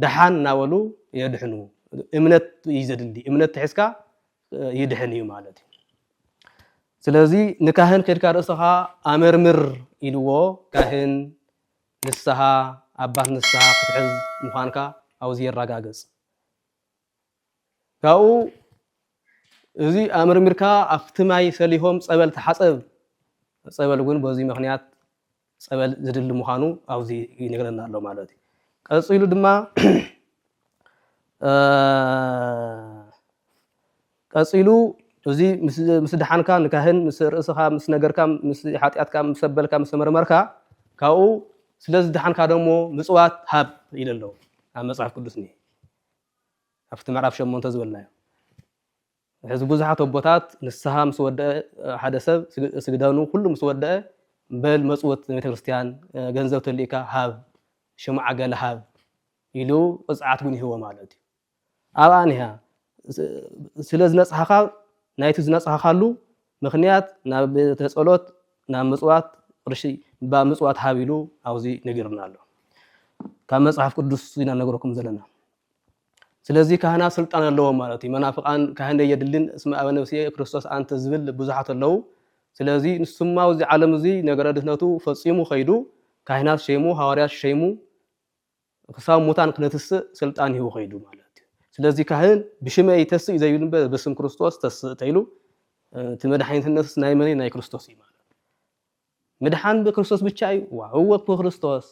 ደሓን እናበሉ የድሕኑ። እምነት እዩ ዘድሊ እምነት ትሕዝካ ይድሕን እዩ ማለት እዩ። ስለዚ ንካህን ከድካ ርእስኻ ኣመርምር ኢልዎ ካህን ንስሃ ኣባት ንስሃ ክትሕዝ ምዃንካ ኣብዚ የራጋግጽ። ካብኡ እዚ ኣምርሚርካ ኣብቲ ማይ ሰሊሆም ጸበል ተሓጸብ ጸበል እውን በዚ ምክንያት ጸበል ዝድሊ ምዃኑ ኣብዚ ይነግረና ኣሎ ማለት እዩ ቀፂሉ ድማ ቀጺሉ እዚ ምስ ደሓንካ ንካህን ምስ ርእስኻ ምስ ነገርካ ምስ ሓጢኣትካ ምስ ኣበልካ ምስ ተመርመርካ ካብኡ ስለ ዝደሓንካ ደሞ ምጽዋት ሃብ ኢሉ ኣሎ ኣብ መጽሓፍ ቅዱስ እኒሄ ኣብቲ ምዕራፍ ሸሞንተ ዝበልናዮ ሕዚ ብዙሓት ኣቦታት ንስሓ ምስ ወደአ ሓደ ሰብ ስግደኑ ኩሉ ምስ ወደአ በል መጽወት ንቤተ ክርስቲያን ገንዘብ ተልእካ ሃብ ሽምዓ ገለ ሃብ ኢሉ ቅጽዓት ግን ይህቦ ማለት እዩ ኣብኣ እኒሃ። ስለ ዝነጽሃኻ ናይቲ ዝነጽሃኻሉ ምኽንያት ናብ ቤተ ጸሎት ናብ ምጽዋት ቅርሺ ብ ምጽዋት ሃብ ኢሉ ኣብዚ ነጊሩና ኣሎ። ካብ መጽሓፍ ቅዱስ ኢና ነግረኩም ዘለና። ስለዚ ካህናት ስልጣን ኣለዎም ማለት እዩ። መናፍቃን ካህን የድልን እስመ ኣበ ነፍስየ ክርስቶስ ኣንተ ዝብል ብዙሓት ኣለዉ። ስለዚ ንሱማ ኣብዚ ዓለም እዚ ነገረ ድህነቱ ፈጺሙ ከይዱ ካህናት ሸይሙ ሃዋርያት ሸይሙ ክሳብ ሙታን ክነትስእ ስልጣን ሂቡ ከይዱ ማለት እዩ። ስለዚ ካህን ብሽመይ ይተስእ እዩ ዘይብል እምበር ብስም ክርስቶስ ተስእ ተይሉ እቲ መድሓኒትነትስ ናይ መን እዩ? ናይ ክርስቶስ እዩ ማለት ምድሓን ብክርስቶስ ብቻ እዩ። ዋ እወ ብክርስቶስ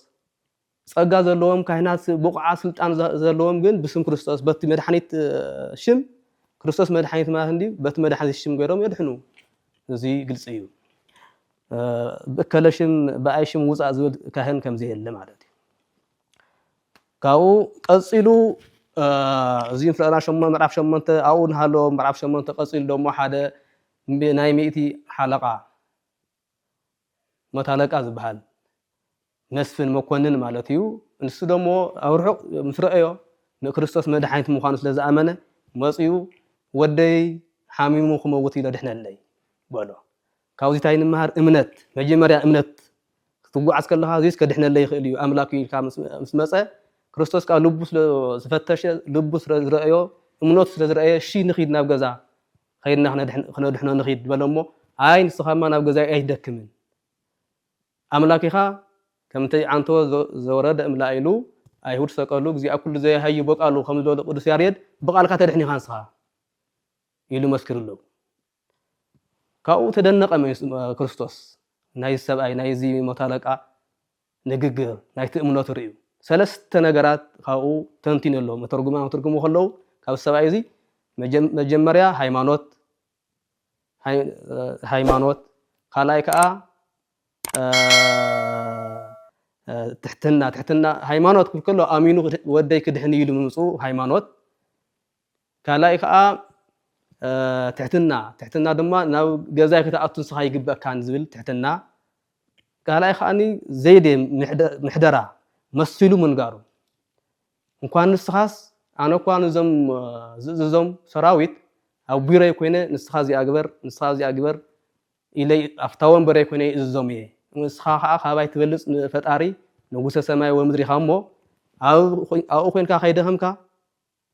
ጸጋ ዘለዎም ካህናት ብቑዓት ስልጣን ዘለዎም ግን ብስም ክርስቶስ በቲ መድሓኒት ሽም ክርስቶስ መድሓኒት ማለት እንዲ በቲ መድሓኒት ሽም ገይሮም የድሕኑ። እዚ ግልጺ እዩ። ብእከለ ሽም ብኣይ ሽም ውፃእ ዝብል ካህን ከምዘየለ ማለት እዩ። ካብኡ ቀፂሉ እዚ ምዕራፍ ሸሞንተ ኣብኡ ንሃለዎ ምዕራፍ ሸሞንተ ቀፂሉ ደሞ ሓደ ናይ ሚእቲ ሓለቓ መቶ ኣለቃ ዝበሃል መስፍን መኮንን ማለት እዩ ንሱ ደሞ ኣብ ርሑቕ ምስ ረአዮ ንክርስቶስ መድሓኒት ምዃኑ ስለ ዝኣመነ መፅኡ ወደይ ሓሚሙ ክመውት ኢሎ ድሕነለይ በሎ ካብዚ ታይ ንመሃር እምነት መጀመርያ እምነት ክትጉዓዝ ከለካ እዚስ ከድሕነለይ ይክእል እዩ ኣምላክ እዩ ኢልካ ምስ መፀ ክርስቶስ ከዓ ልቡ ስለ ዝፈተሸ ልቡ ስለ ዝረእዮ እምነቱ ስለ ዝረእየ እሺ ንኪድ ናብ ገዛ ከይድና ክነድሕኖ ንኪድ በሎ እሞ ኣይ ንስካማ ናብ ገዛይ ኣይትደክምን ኣምላክ ኢካ ከምቲ ዓንቶ ዘወረደ እምላ ኢሉ ኣይሁድ ሰቀሉ እግዚኣ ኩሉ ዘያሃዩ በቃሉ ከም ዝበሉ ቅዱስ ያሬድ ብቃልካ ተድሕን ኢካ ንስካ ኢሉ መስክርሉ ካብኡ ተደነቐ ክርስቶስ ናይዚ ሰብኣይ ናይዚ መቶ ኣለቃ ንግግር ናይቲ እምነቱ ርእዩ ሰለስተ ነገራት ካብኡ ተንቲኑ ኣሎ መተርጉማ መተርጉሙ ከለዉ ካብ ሰብኣይ እዚ መጀመርያ ሃይማኖት ሃይማኖት ካልኣይ ከዓ ትሕትና ትሕትና ሃይማኖት ክከሎ ኣሚኑ ወደይ ክድሕን ኢሉ ምምፅኡ ሃይማኖት ካልኣይ ከኣ ትሕትና ትሕትና ድማ ናብ ገዛይ ክትኣቱ ንስኻ ኣይግበእካን ዝብል ትሕትና ካልኣይ ከኣ ዘይዴ ምሕደራ መሲሉ ምንጋሩ እንኳን ንስኻስ ኣነ እኳ ንዞም ዝእዝዞም ሰራዊት ኣብ ቢሮይ ኮይነ ንስኻ እዚኣ ግበር ንስኻ እዚኣ ግበር ኢለይ ኣብታ ወንበረይ ኮይነ ይእዝዞም እየ ንስኻ ከዓ ካባይ ትበልፅ ፈጣሪ ንጉሰ ሰማይ ወምድሪ ኢኻ እሞ ኣብኡ ኮንካ ከይደኸምካ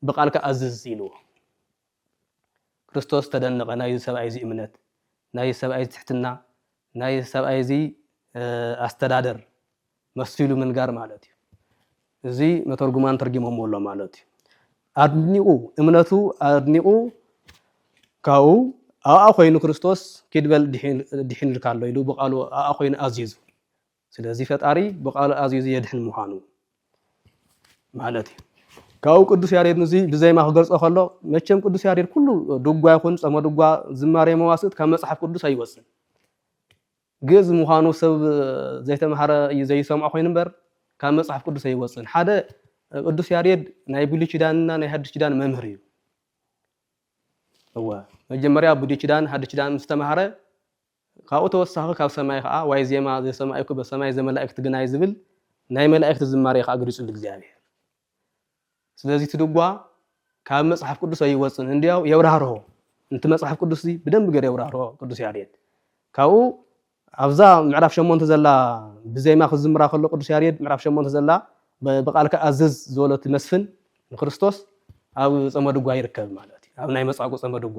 ብቓልካ ኣዝዝ ኢልዎ። ክርስቶስ ተደነቐ፣ ናይዚ ሰብኣይ እዚ እምነት፣ ናይዚ ሰብኣይ እዚ ትሕትና፣ ናይዚ ሰብኣይ እዚ ኣስተዳደር መሲሉ ምንጋር ማለት እዩ። እዚ መተርጉማን ተርጊሞምዎ ኣሎ ማለት እዩ። ኣድኒቑ እምነቱ ኣድኒቑ ካብኡ ኣብኣ ኮይኑ ክርስቶስ ኪድ በል ድሒንልካ ኣሎ ኢሉ ብቓሉ ኣብኣ ኮይኑ ኣዚዙ። ስለዚ ፈጣሪ ብቃሉ ኣዚዙ የድሕን ምዃኑ ማለት እዩ። ካብኡ ቅዱስ ያሬድ ንዙይ ብዜማ ክገልጾ ከሎ መቸም ቅዱስ ያሬድ ኩሉ ድጓ ይኹን ጸመ ድጓ ዝማሬ መዋስእት ካብ መጽሓፍ ቅዱስ ኣይወጽን ግእዝ ምዃኑ ሰብ ዘይተምሃረ እዩ ዘይሰምዖ ኮይኑ እምበር ካብ መፅሓፍ ቅዱስ ኣይወፅን ሓደ ቅዱስ ያሬድ ናይ ብሉይ ኪዳንና ናይ ሓድሽ ኪዳን መምህር እዩ እወ መጀመርያ ብሉይ ኪዳን ሓድሽ ኪዳን ምስ ተማሃረ ካብኡ ተወሳኺ ካብ ሰማይ ኸኣ ዋይ ዜማ ዘሰማኢኩ በሰማይ ዘመላኢክት ግናይ ዝብል ናይ መላኢክት ዝማሬ ኸኣ ገሊጹሉ እግዚኣብሄር ስለዚ እቲ ድጓ ካብ መጽሓፍ ቅዱስ ኣይወጽን እንድያው የብራህርሆ ንቲ መጽሓፍ ቅዱስዚ ብደንቢ ገር የብራህርሆ ቅዱስ ያሬድ ካብኡ ኣብዛ ምዕራፍ ሸሞንተ ዘላ ብዜማ ክዝምራ ከሎ ቅዱስ ያሬድ ምዕራፍ ሸሞንተ ዘላ ብቃልካ ኣዝዝ ዝበሎቲ መስፍን ንክርስቶስ ኣብ ጸመድጓ ይርከብ ማለት እዩ ኣብ ናይ መጻጉ ጸመድጓ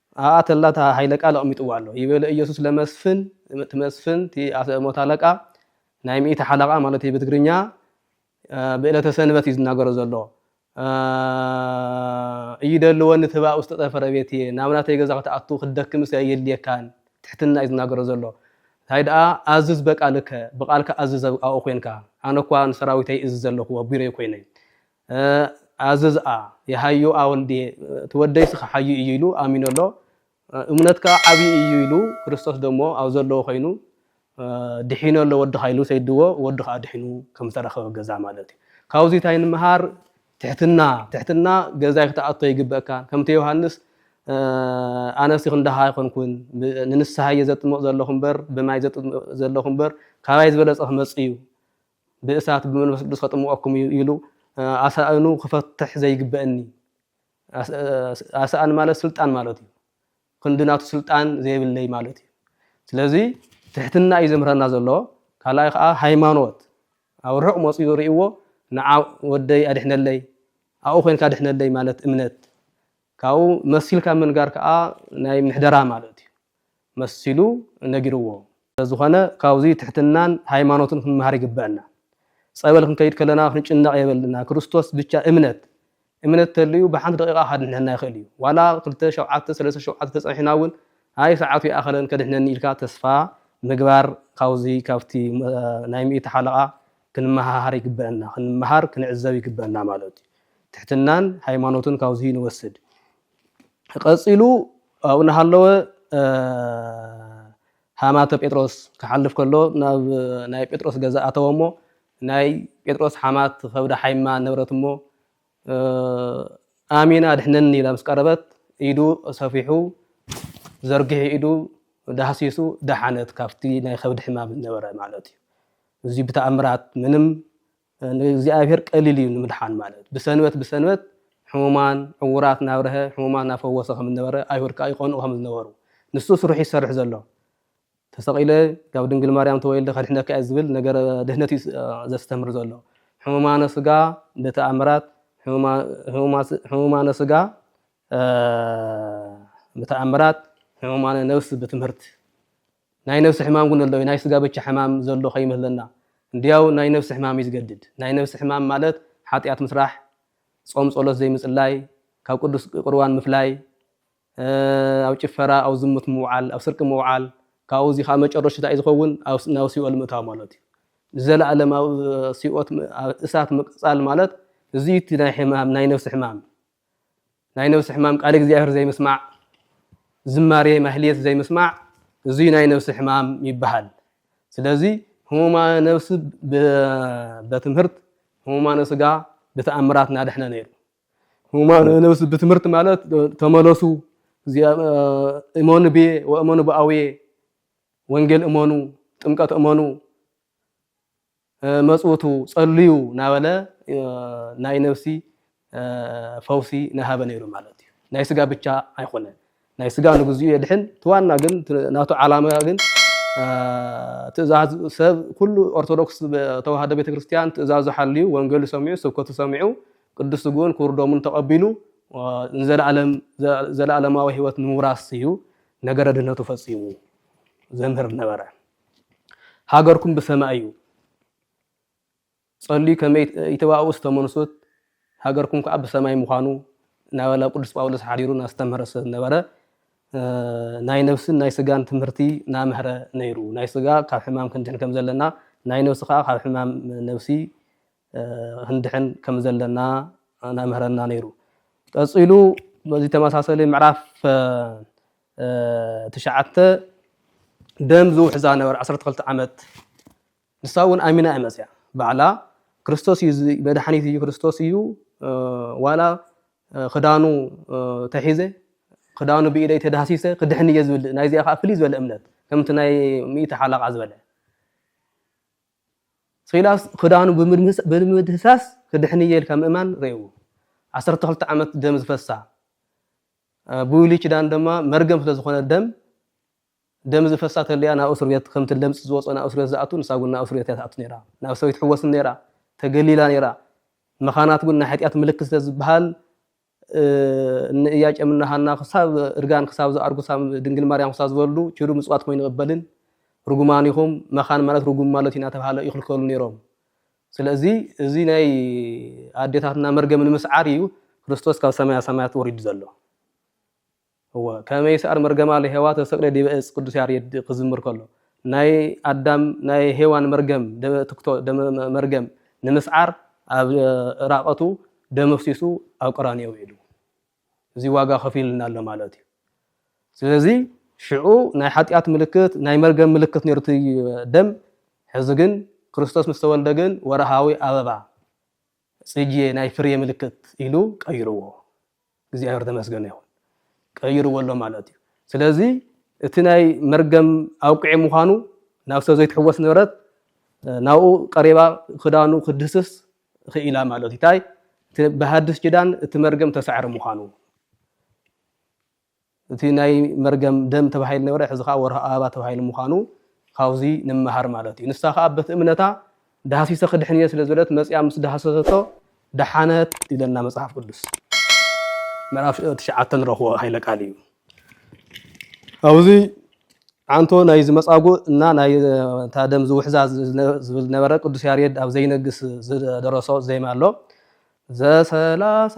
ኣብኣ ተላ እታ ሃይለ ቃል ኣቕሚጥዋ ኣሎ። ይበለ ኢየሱስ ለመስፍን እቲ መስፍን እቲ ኣሰ ሞት ኣለቃ ናይ ሚእቲ ሓለቓ ማለት እዩ ብትግርኛ ብእለተ ሰንበት እዩ ዝናገሮ ዘሎ እይደልወኒ ትብኣ ውስጥ ጠፈረ ቤት እየ ናብ ናተይ ገዛ ክትኣቱ ክትደክምስ ኣየድልየካን ትሕትና እዩ ዝናገሮ ዘሎ እንታይ ደኣ ኣዝዝ በቃልከ ብቃልካ ኣዝዝ ኣብኡ ኮንካ ኣነ እኳ ንሰራዊተይ እዝዝ ኣለኹ ኣብ ቢሮይ ኮይነ ኣዝዝኣ የሃዩ ኣወልድየ እቲ ወደይስ ኸሓዩ እዩ ኢሉ ኣሚኑ ኣሎ እሙነትካ ዓብዩ እዩ ኢሉ ክርስቶስ ደሞ ኣብ ዘለዎ ኮይኑ ድሒኑ ኣሎ ወድኻ ኢሉ ሰይድዎ ወዱ ኸኣ ድሒኑ ከም ዝተረኸበ ገዛ ማለት እዩ ካብዙይ ታይ ንምሃር ትሕትና ትሕትና ገዛይ ክትኣቶ ይግበእካ ከምቲ ዮሃንስ ኣነሲ ክንደኻ ኣይኮንኩን ንንስሓ እየ ዘጥምቕ ዘለኹ እምበር ብማይ ዘጥምቕ ዘለኹ እምበር ካባይ ዝበለጸ ክመጽእ እዩ ብእሳት ብመንፈስ ቅዱስ ከጥምቀኩም እዩ ኢሉ ኣሳእኑ ክፈትሕ ዘይግበእኒ ኣሳእን ማለት ስልጣን ማለት እዩ ክንዲ ናቱ ስልጣን ዘይብለይ ማለት እዩ ስለዚ ትሕትና እዩ ዘምህረና ዘሎ ካልኣይ ከዓ ሃይማኖት ኣብ ርሑቅ መፅኡ ርእዎ ንዓ ወደይ ኣድሕነለይ ኣብኡ ኮንካ ኣድሕነለይ ማለት እምነት ካብኡ መሲልካ ምንጋር ከዓ ናይ ምሕደራ ማለት እዩ መሲሉ ነጊርዎ። ስለዝኾነ ካብዙይ ትሕትናን ሃይማኖትን ክንመሃር ይግበእና። ፀበል ክንከይድ ከለና ክንጭነቕ የብልና ክርስቶስ ብቻ እምነት እምነት ተልዩ ብሓንቲ ደቂቓ ካድሕነና ይኽእል እዩ ዋላ ክልተ ሸውዓተ ሰለስተ ሸውዓተ ተፀኒሕና እውን ኣይ ሰዓቱ ይኣኸለን ከድሕነኒ ኢልካ ተስፋ ምግባር ካብዙይ ካብቲ ናይ ሚእቲ ሓለቓ ክንመሃሃር ይግበእና ክንመሃር ክንዕዘብ ይግበእና ማለት እዩ ትሕትናን ሃይማኖትን ካብዙይ ንወስድ ቐጺሉ ኣብኡ እናሃለወ ሃማተ ጴጥሮስ ክሓልፍ ከሎ ናብ ናይ ጴጥሮስ ገዛ ኣተወ እሞ ናይ ጴጥሮስ ሓማት ኸብዳ ሓይማ ነበረት እሞ ኣሚን ኣድሕነኒ ኢላ ምስ ቀረበት ኢዱ ሰፊሑ ዘርጊሑ ኢዱ ዳህሲሱ ደሓነት ካብቲ ናይ ከብዲ ሕማም ዝነበረ ማለት እዩ። እዚ ብተኣምራት ምንም ንእግዚኣብሔር ቀሊል እዩ ንምድሓን ማለት ብሰንበት ብሰንበት ሕሙማን ዕውራት ናብርሀ ሕሙማን ናፈወሰ ከም ዝነበረ ኣይሁድ ከዓ ይቀንኡ ከም ዝነበሩ ንሱ ስርሑ ይሰርሕ ዘሎ ተሰቂለ ካብ ድንግል ማርያም ተወልደ ከድሕነካ እዩ ዝብል ነገረ ድህነት እዩ ዘስተምር ዘሎ ሕሙማነ ስጋ ብተኣምራት ሕሙማነ ስጋ ብተኣምራት ሕሙማነ ነብስ ብትምህርት ናይ ነብሲ ሕማም ግን ኣሎ እዩ ናይ ስጋ ብቻ ሕማም ዘሎ ከይመስለና እንድያው ናይ ነብሲ ሕማም እዩ ዝገድድ ናይ ነብሲ ሕማም ማለት ሓጥያት ምስራሕ ጾም ጸሎት ዘይምጽላይ ካብ ቅዱስ ቁርባን ምፍላይ ኣብ ጭፈራ ኣብ ዝሙት ምውዓል ኣብ ስርቂ ምውዓል ካብኡ እዚ ከዓ መጨረሹ እንታይ ዝኸውን ናብ ሲኦል ምእታው ማለት እዩ ንዘለኣለማዊ ሲኦት እሳት ምቅጻል ማለት እዚ እቲ ናይ ሕማም ናይ ነብሲ ሕማም ናይ ነብሲ ሕማም ቃል እግዚኣብሔር ዘይምስማዕ ዝማሬ ማህሌት ዘይምስማዕ እዙይ ናይ ነብሲ ሕማም ይበሃል ስለዚ ህሙማነ ነብሲ በትምህርት ህሙማነ ስጋ ብተኣምራት ናደሕነ ነይሩ ህሙማነ ነብሲ ብትምህርት ማለት ተመለሱ እመኑ ብየ ወእመኑ ብኣውየ ወንጌል እመኑ ጥምቀት እመኑ መጽውቱ ጸልዩ ናበለ ናይ ነብሲ ፈውሲ ናሃበ ነይሩ ማለት እዩ ናይ ስጋ ብቻ ኣይኮነን ናይ ስጋ ንግዚኡ የድሕን እቲ ዋና ግን ናቱ ዓላማ ግን ትእዛዝ ሰብ ኩሉ ኦርቶዶክስ ተዋህዶ ቤተክርስትያን ትእዛዙ ሓልዩ ወንገሉ ሰሚዑ ስብከቱ ሰሚዑ ቅዱስ ስግኡን ክቡር ደሙን ተቐቢሉ ንዘላለም ዘላኣለማዊ ህይወት ንምውራስ እዩ ነገረ ድህነቱ ፈጺሙ ዘምህር ነበረ ሃገርኩም ብሰማይ እዩ ጸልዩ ከመ ይተባኡ እስተ መንሱት ሃገርኩም ከዓ ብሰማይ ምዃኑ እናበለ ቅዱስ ጳውሎስ ሓዲሩ እናስተምህረ ስለ ዝነበረ ናይ ነብስን ናይ ስጋን ትምህርቲ ናምህረ ነይሩ ናይ ስጋ ካብ ሕማም ክንድሕን ከም ዘለና ናይ ነብሲ ከዓ ካብ ሕማም ነብሲ ክንድሕን ከም ዘለና ናምህረና ነይሩ። ቀጺሉ በዚ ተመሳሰሊ ምዕራፍ ትሽዓተ ደም ዝውሕዛ ነበር ዓሰርተ ክልተ ዓመት ንሳ እውን ኣሚና እያ መጽያ ባዕላ ክርስቶስ እዩ መድሓኒት እዩ ክርስቶስ እዩ ዋላ ክዳኑ ተሒዘ ክዳኑ ብኢደይ ተዳህሲሰ ክድሕን እየ ዝብል ናይዚኣ ከዓ ፍልይ ዝበለ እምነት ከምቲ ናይ ሚእቲ ሓላቃ ዝበለ ሲላስ ክዳኑ ብምድህሳስ ክድሕን'የ ኢልካ ምእማን ርኤዎ። ዓሰርተ ክልተ ዓመት ደም ዝፈሳ ብዊሊ ኪዳን ድማ መርገም ስለ ዝኾነ ደም ደም ዝፈሳ ተልያ ናብ እስርቤት ከምቲ ለምጽ ዝወጾ ናብ እስርቤት ዝኣቱ ንሳ ውን ናብ እስርቤት እያ ትኣቱ ነይራ ናብ ሰበይት ሕወስን ነይራ ተገሊላ ነይራ መኻናት ውን ናይ ሕጢያት ምልክት ስለ ዝበሃል እኒ እያቄም እና ሃና ክሳብ እርጋን ክሳብ ዝኣርጉ ሳብ ድንግል ማርያም ክሳብ ዝበሉ ኪዱ ምጽዋት ኮይኑ ቅበልን ርጉማን ኢኹም መኻን ማለት ርጉም ማለት ኢና ተባሃለ ይኽልከሉ ነይሮም ስለዚ እዚ ናይ ኣዴታትና መርገም ንምስዓር እዩ ክርስቶስ ካብ ሰማያ ሰማያት ወሪዱ ዘሎ እወ ከመይ ይስኣል መርገማ ለሔዋ ተሰቅለ ዲበ እፅ ቅዱስ ያሬድ ክዝምር ከሎ ናይ ኣዳም ናይ ሔዋን መርገም ደመ ትክቶ ደመ መርገም ንምስዓር ኣብ እራቀቱ ደም ኣፍሲሱ ኣብ ቀራንዮ ውዒሉ እዚ ዋጋ ከፊሉልና ኣሎ ማለት እዩ ስለዚ ሽዑ ናይ ሓጢኣት ምልክት ናይ መርገም ምልክት ነይሩ እቲ ደም ሕዚ ግን ክርስቶስ ምስ ተወልደ ግን ወርሃዊ ኣበባ ጽጌ ናይ ፍሬ ምልክት ኢሉ ቀይርዎ እግዚኣብሔር ተመስገነ ይኹን ቀይርዎ ኣሎ ማለት እዩ ስለዚ እቲ ናይ መርገም ኣብቅዒ ምዃኑ ናብ ሰብ ዘይትሕወስ ንብረት ናብኡ ቀሪባ ክዳኑ ክድህስስ ኽኢላ ማለት እዩ ታይ ብሃድስ ኪዳን እቲ መርገም ተሳዕረ ምዃኑ እቲ ናይ መርገም ደም ተባሂሉ ነበረ ሕዚ ከኣ ወርሃ ኣበባ ተባሂሉ ምዃኑ ካብዚ ንመሃር ማለት እዩ። ንሳ ከኣ በቲ እምነታ ዳህሲሰ ክድሕን እየ ስለ ዝበለት መጺኣ ምስ ዳህሰሰቶ ደሓነት ይብለና መጽሓፍ ቅዱስ ምዕራፍ ትሽዓተ ንረኽቦ ሃይለ ቃል እዩ። ኣብዚ ዓንቶ ናይዚ መጻጉእ እና ናይ እታ ደም ዝውሕዛ ዝብል ነበረ ቅዱስ ያሬድ ኣብ ዘይነግስ ዝደረሶ ዜማ ኣሎ ዘሰላሳ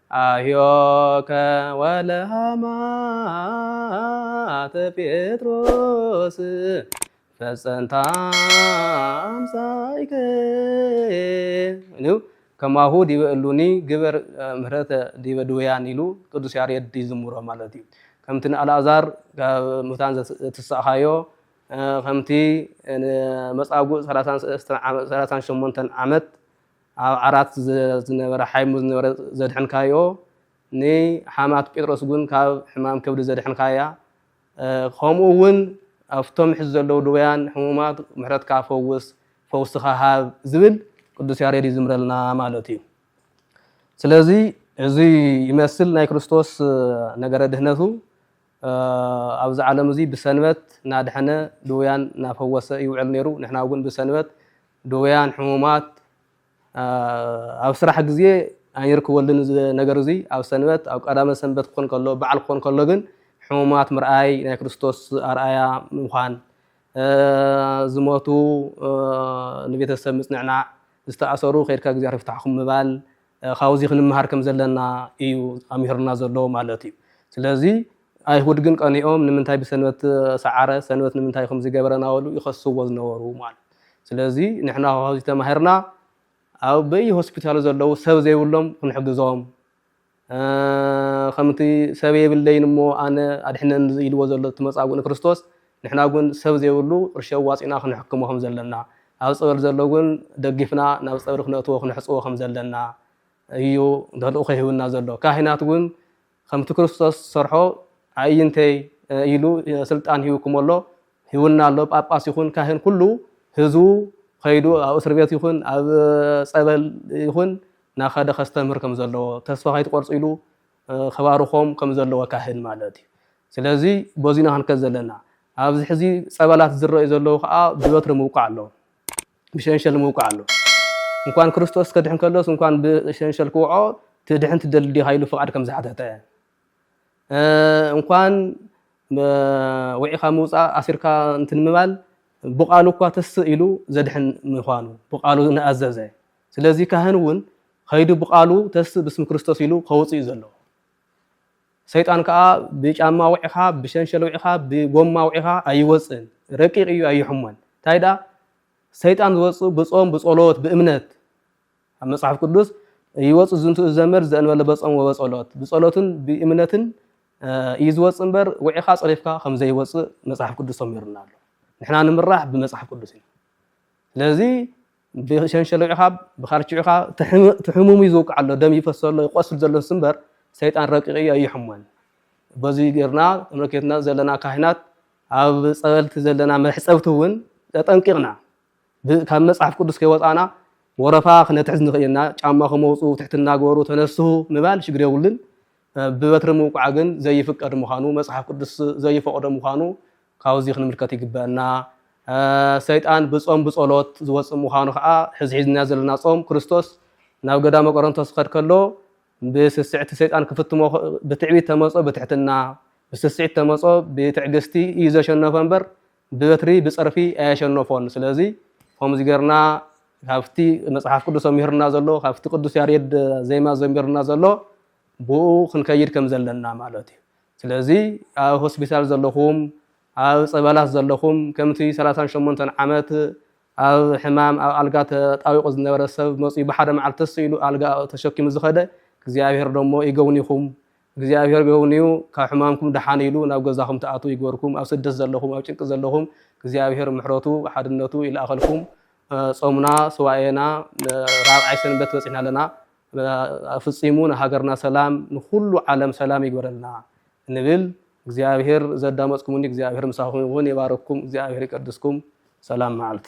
ኣህዮከ ወለሃማተ ጴጥሮስ ፈጸንታ ኣምሳይከ ከማሁ ዲበ እሉኒ ግበር ምህረተ ዲበ ድውያን ኢሉ ቅዱስ ያሬድ ይዝምሮ ማለት እዩ ከምቲ ንኣልኣዛር ካብ ሙታን ዘትስእኻዮ ከምቲ መፃጉእ 38 ዓመት ኣብ ዓራት ዝነበረ ሓይሙ ዝነበረ ዘድሕንካዮ ንሓማቱ ጴጥሮስ ውን ካብ ሕማም ከብዲ ዘድሕንካያ ከምኡ ውን ኣብቶም ሕዚ ዘለዉ ድውያን ሕሙማት ምሕረትካ ፈውስ ፈውስኻ ሃብ ዝብል ቅዱስ ያሬድ ይዝምረልና ማለት እዩ ስለዚ እዚ ይመስል ናይ ክርስቶስ ነገረ ድህነቱ ኣብዚ ዓለም እዚ ብሰንበት እናድሐነ ድውያን እናፈወሰ ይውዕል ነይሩ። ንሕና እውን ብሰንበት ድውያን፣ ሕሙማት፣ ኣብ ስራሕ ግዜ ኣይንርክበሉን እዚ ነገር እዚ። ኣብ ሰንበት ኣብ ቀዳመ ሰንበት ክኾን ከሎ በዓል ክኾን ከሎ ግን ሕሙማት ምርኣይ ናይ ክርስቶስ ኣርኣያ ምዃን ዝሞቱ ንቤተሰብ ምጽንዕናዕ ዝተኣሰሩ ከድካ እግዚኣብሔር ይፍታሕኩም ምባል ካብዚ ክንመሃር ከም ዘለና እዩ ኣምሂሩና ዘሎ ማለት እዩ። ስለዚ ኣይሁድ ግን ቀኒኦም ንምንታይ ብሰንበት ሰዓረ፣ ሰንበት ንምንታይ ከምዚ ገበረ እናበሉ ይኸስዎ ዝነበሩ ማለት እዩ። ስለዚ ንሕና ካብዚ ተማሂርና ኣብ በየሆስፒታሉ ዘለዉ ሰብ ዘይብሎም ክንሕግዞም ከምቲ ሰብ የብለይን እሞ ኣነ ኣድሕነኒ ኢልዎ ዘሎ እቲ መጻጉእ ንክርስቶስ ንሕና ግን ሰብ ዘይብሉ ርሸ ኣዋጺእና ክንሕክሞ ከም ዘለና፣ ኣብ ጸበል ዘሎ ግን ደጊፍና ናብ ጸብሪ ክነእትዎ ክነሕጽቦ ከም ዘለና እዩ ተልእኾ ሂቡና ዘሎ። ካህናት ግን ከምቲ ክርስቶስ ዝሰርሖ ኣዒይንተይ ኢሉ ስልጣን ሂቡኩም ኣሎ ሂቡና ኣሎ ጳጳስ ይኹን ካህን ኩሉ ህዝቡ ከይዱ ኣብ እስር ቤት ይኹን ኣብ ጸበል ይኹን ናኸደ ከስተምህር ከም ዘለዎ ተስፋ ከይትቆርጹ ኢሉ ከባርኾም ከምዘለዎ ካህን ማለት እዩ ስለዚ በዚ ኢና ክንከድ ዘለና ኣብዚ ሕዚ ጸበላት ዝረኣዩ ዘለዉ ከዓ ብበትሪ ምውቃዕ ኣለዎ ብሸንሸል ምውቃዕ ኣለዎ እንኳን ክርስቶስ ከድሕን ከሎስ እንኳን ብሸንሸል ክውዖ ትድሕን ትደሊ ዲኻ ኢሉ ፍቓድ ከም ዝሓተተ እንኳን ውዒኻ ምውፃእ ኣሲርካ እንትን ምባል ብቃሉ እኳ ተስእ ኢሉ ዘድሕን ምዃኑ ብቃሉ ንኣዘዘ ስለዚ ካህን እውን ከይዱ ብቃሉ ተስእ ብስም ክርስቶስ ኢሉ ከውፅእ እዩ ዘለዎ። ሰይጣን ከዓ ብጫማ ውዒኻ ብሸንሸል ውዒኻ ብጎማ ውዒኻ ኣይወፅእን ረቂቕ እዩ ኣይሕሞን እንታይ ደኣ ሰይጣን ዝወፅእ ብፆም ብፀሎት ብእምነት ኣብ መፅሓፍ ቅዱስ ይወፅእ ዝንቱ ዘመድ ዘእንበለ በፆም ወበፀሎት ብፀሎትን ብእምነትን እዩ ዝወፅእ እምበር ውዒኻ ፀሪፍካ ከም ዘይወፅእ መፅሓፍ ቅዱስ ተሚሩና ኣሎ ንሕና ንምራሕ ብመፅሓፍ ቅዱስ እዩ ስለዚ ብሸንሸሎ'ኻ ብካርቺዕ'ኻ ትሕሙም'ዩ ዝውቃዕ ኣሎ ደም ይፈስ ኣሎ ይቆስል ዘሎስ እምበር ሰይጣን ረቂቕ'ዩ ኣይሕሞን በዙይ ጌርና ተመልኪትና ዘለና ካህናት ኣብ ጸበልቲ ዘለና መሕጸብቲ እውን ተጠንቂቕና ካብ መጽሓፍ ቅዱስ ከይወጻና ወረፋ ክነትሕዝ ንኽእልና ጫማኹም ኣውጽኡ ትሕትና ግበሩ ተነስሁ ምባል ሽግር የብሉን ብበትሪ ምውቃዕ ግን ዘይፍቀድ ምዃኑ መጽሓፍ ቅዱስ ዘይፈቕዶ ምዃኑ ካብዚ ክንምልከት ይግበእና ሰይጣን ብጾም ብጸሎት ዝወጽእ ምዃኑ ከኣ ሕዚ ሒዝናዮ ዘለና ጾም ክርስቶስ ናብ ገዳመ ቆሮንቶስ ዝኸድ ከሎ ብስስዕቲ ሰይጣን ክፍትሞ ብትዕቢት ተመጾ ብትሕትና ብስስዒት ተመጾ ብትዕግስቲ እዩ ዘሸነፎ እምበር ብበትሪ ብጸርፊ ኣየሸነፎን ስለዚ ከምዚ ጌርና ካብቲ መጽሓፍ ቅዱስ ኣምህርና ዘሎ ካብቲ ቅዱስ ያሬድ ዜማ ዘሚርና ዘሎ ብኡ ክንከይድ ከም ዘለና ማለት እዩ ስለዚ ኣብ ሆስፒታል ዘለኹም ኣብ ጸበላት ዘለኹም ከምቲ ሰላሳን ሸሞንተን ዓመት ኣብ ሕማም ኣብ ኣልጋ ተጣዊቑ ዝነበረ ሰብ መጺኡ ብሓደ መዓልቲ ተስ ኢሉ ኣልጋ ተሸኪሙ ዝኸደ እግዚኣብሔር ደሞ ይገውኒኹም እግዚኣብሔር ገውንዩ ካብ ሕማምኩም ደሓን ኢሉ ናብ ገዛኹም ትኣትዉ ይግበርኩም ኣብ ስደት ዘለኹም ኣብ ጭንቂ ዘለኹም እግዚኣብሔር ምሕረቱ ሓድነቱ ይልኣኸልኩም ጾምና ስዋኤና ራብዓይ ሰንበት በጺሕና ኣለና ኣፍጺሙ ንሃገርና ሰላም ንኩሉ ዓለም ሰላም ይግበረልና እንብል እግዚኣብሔር ዘዳመጽኩምኒ እግዚኣብሔር ምሳኹም ይኹን ይባርኩም እግዚኣብሔር ይቀድስኩም ሰላም መዓልቲ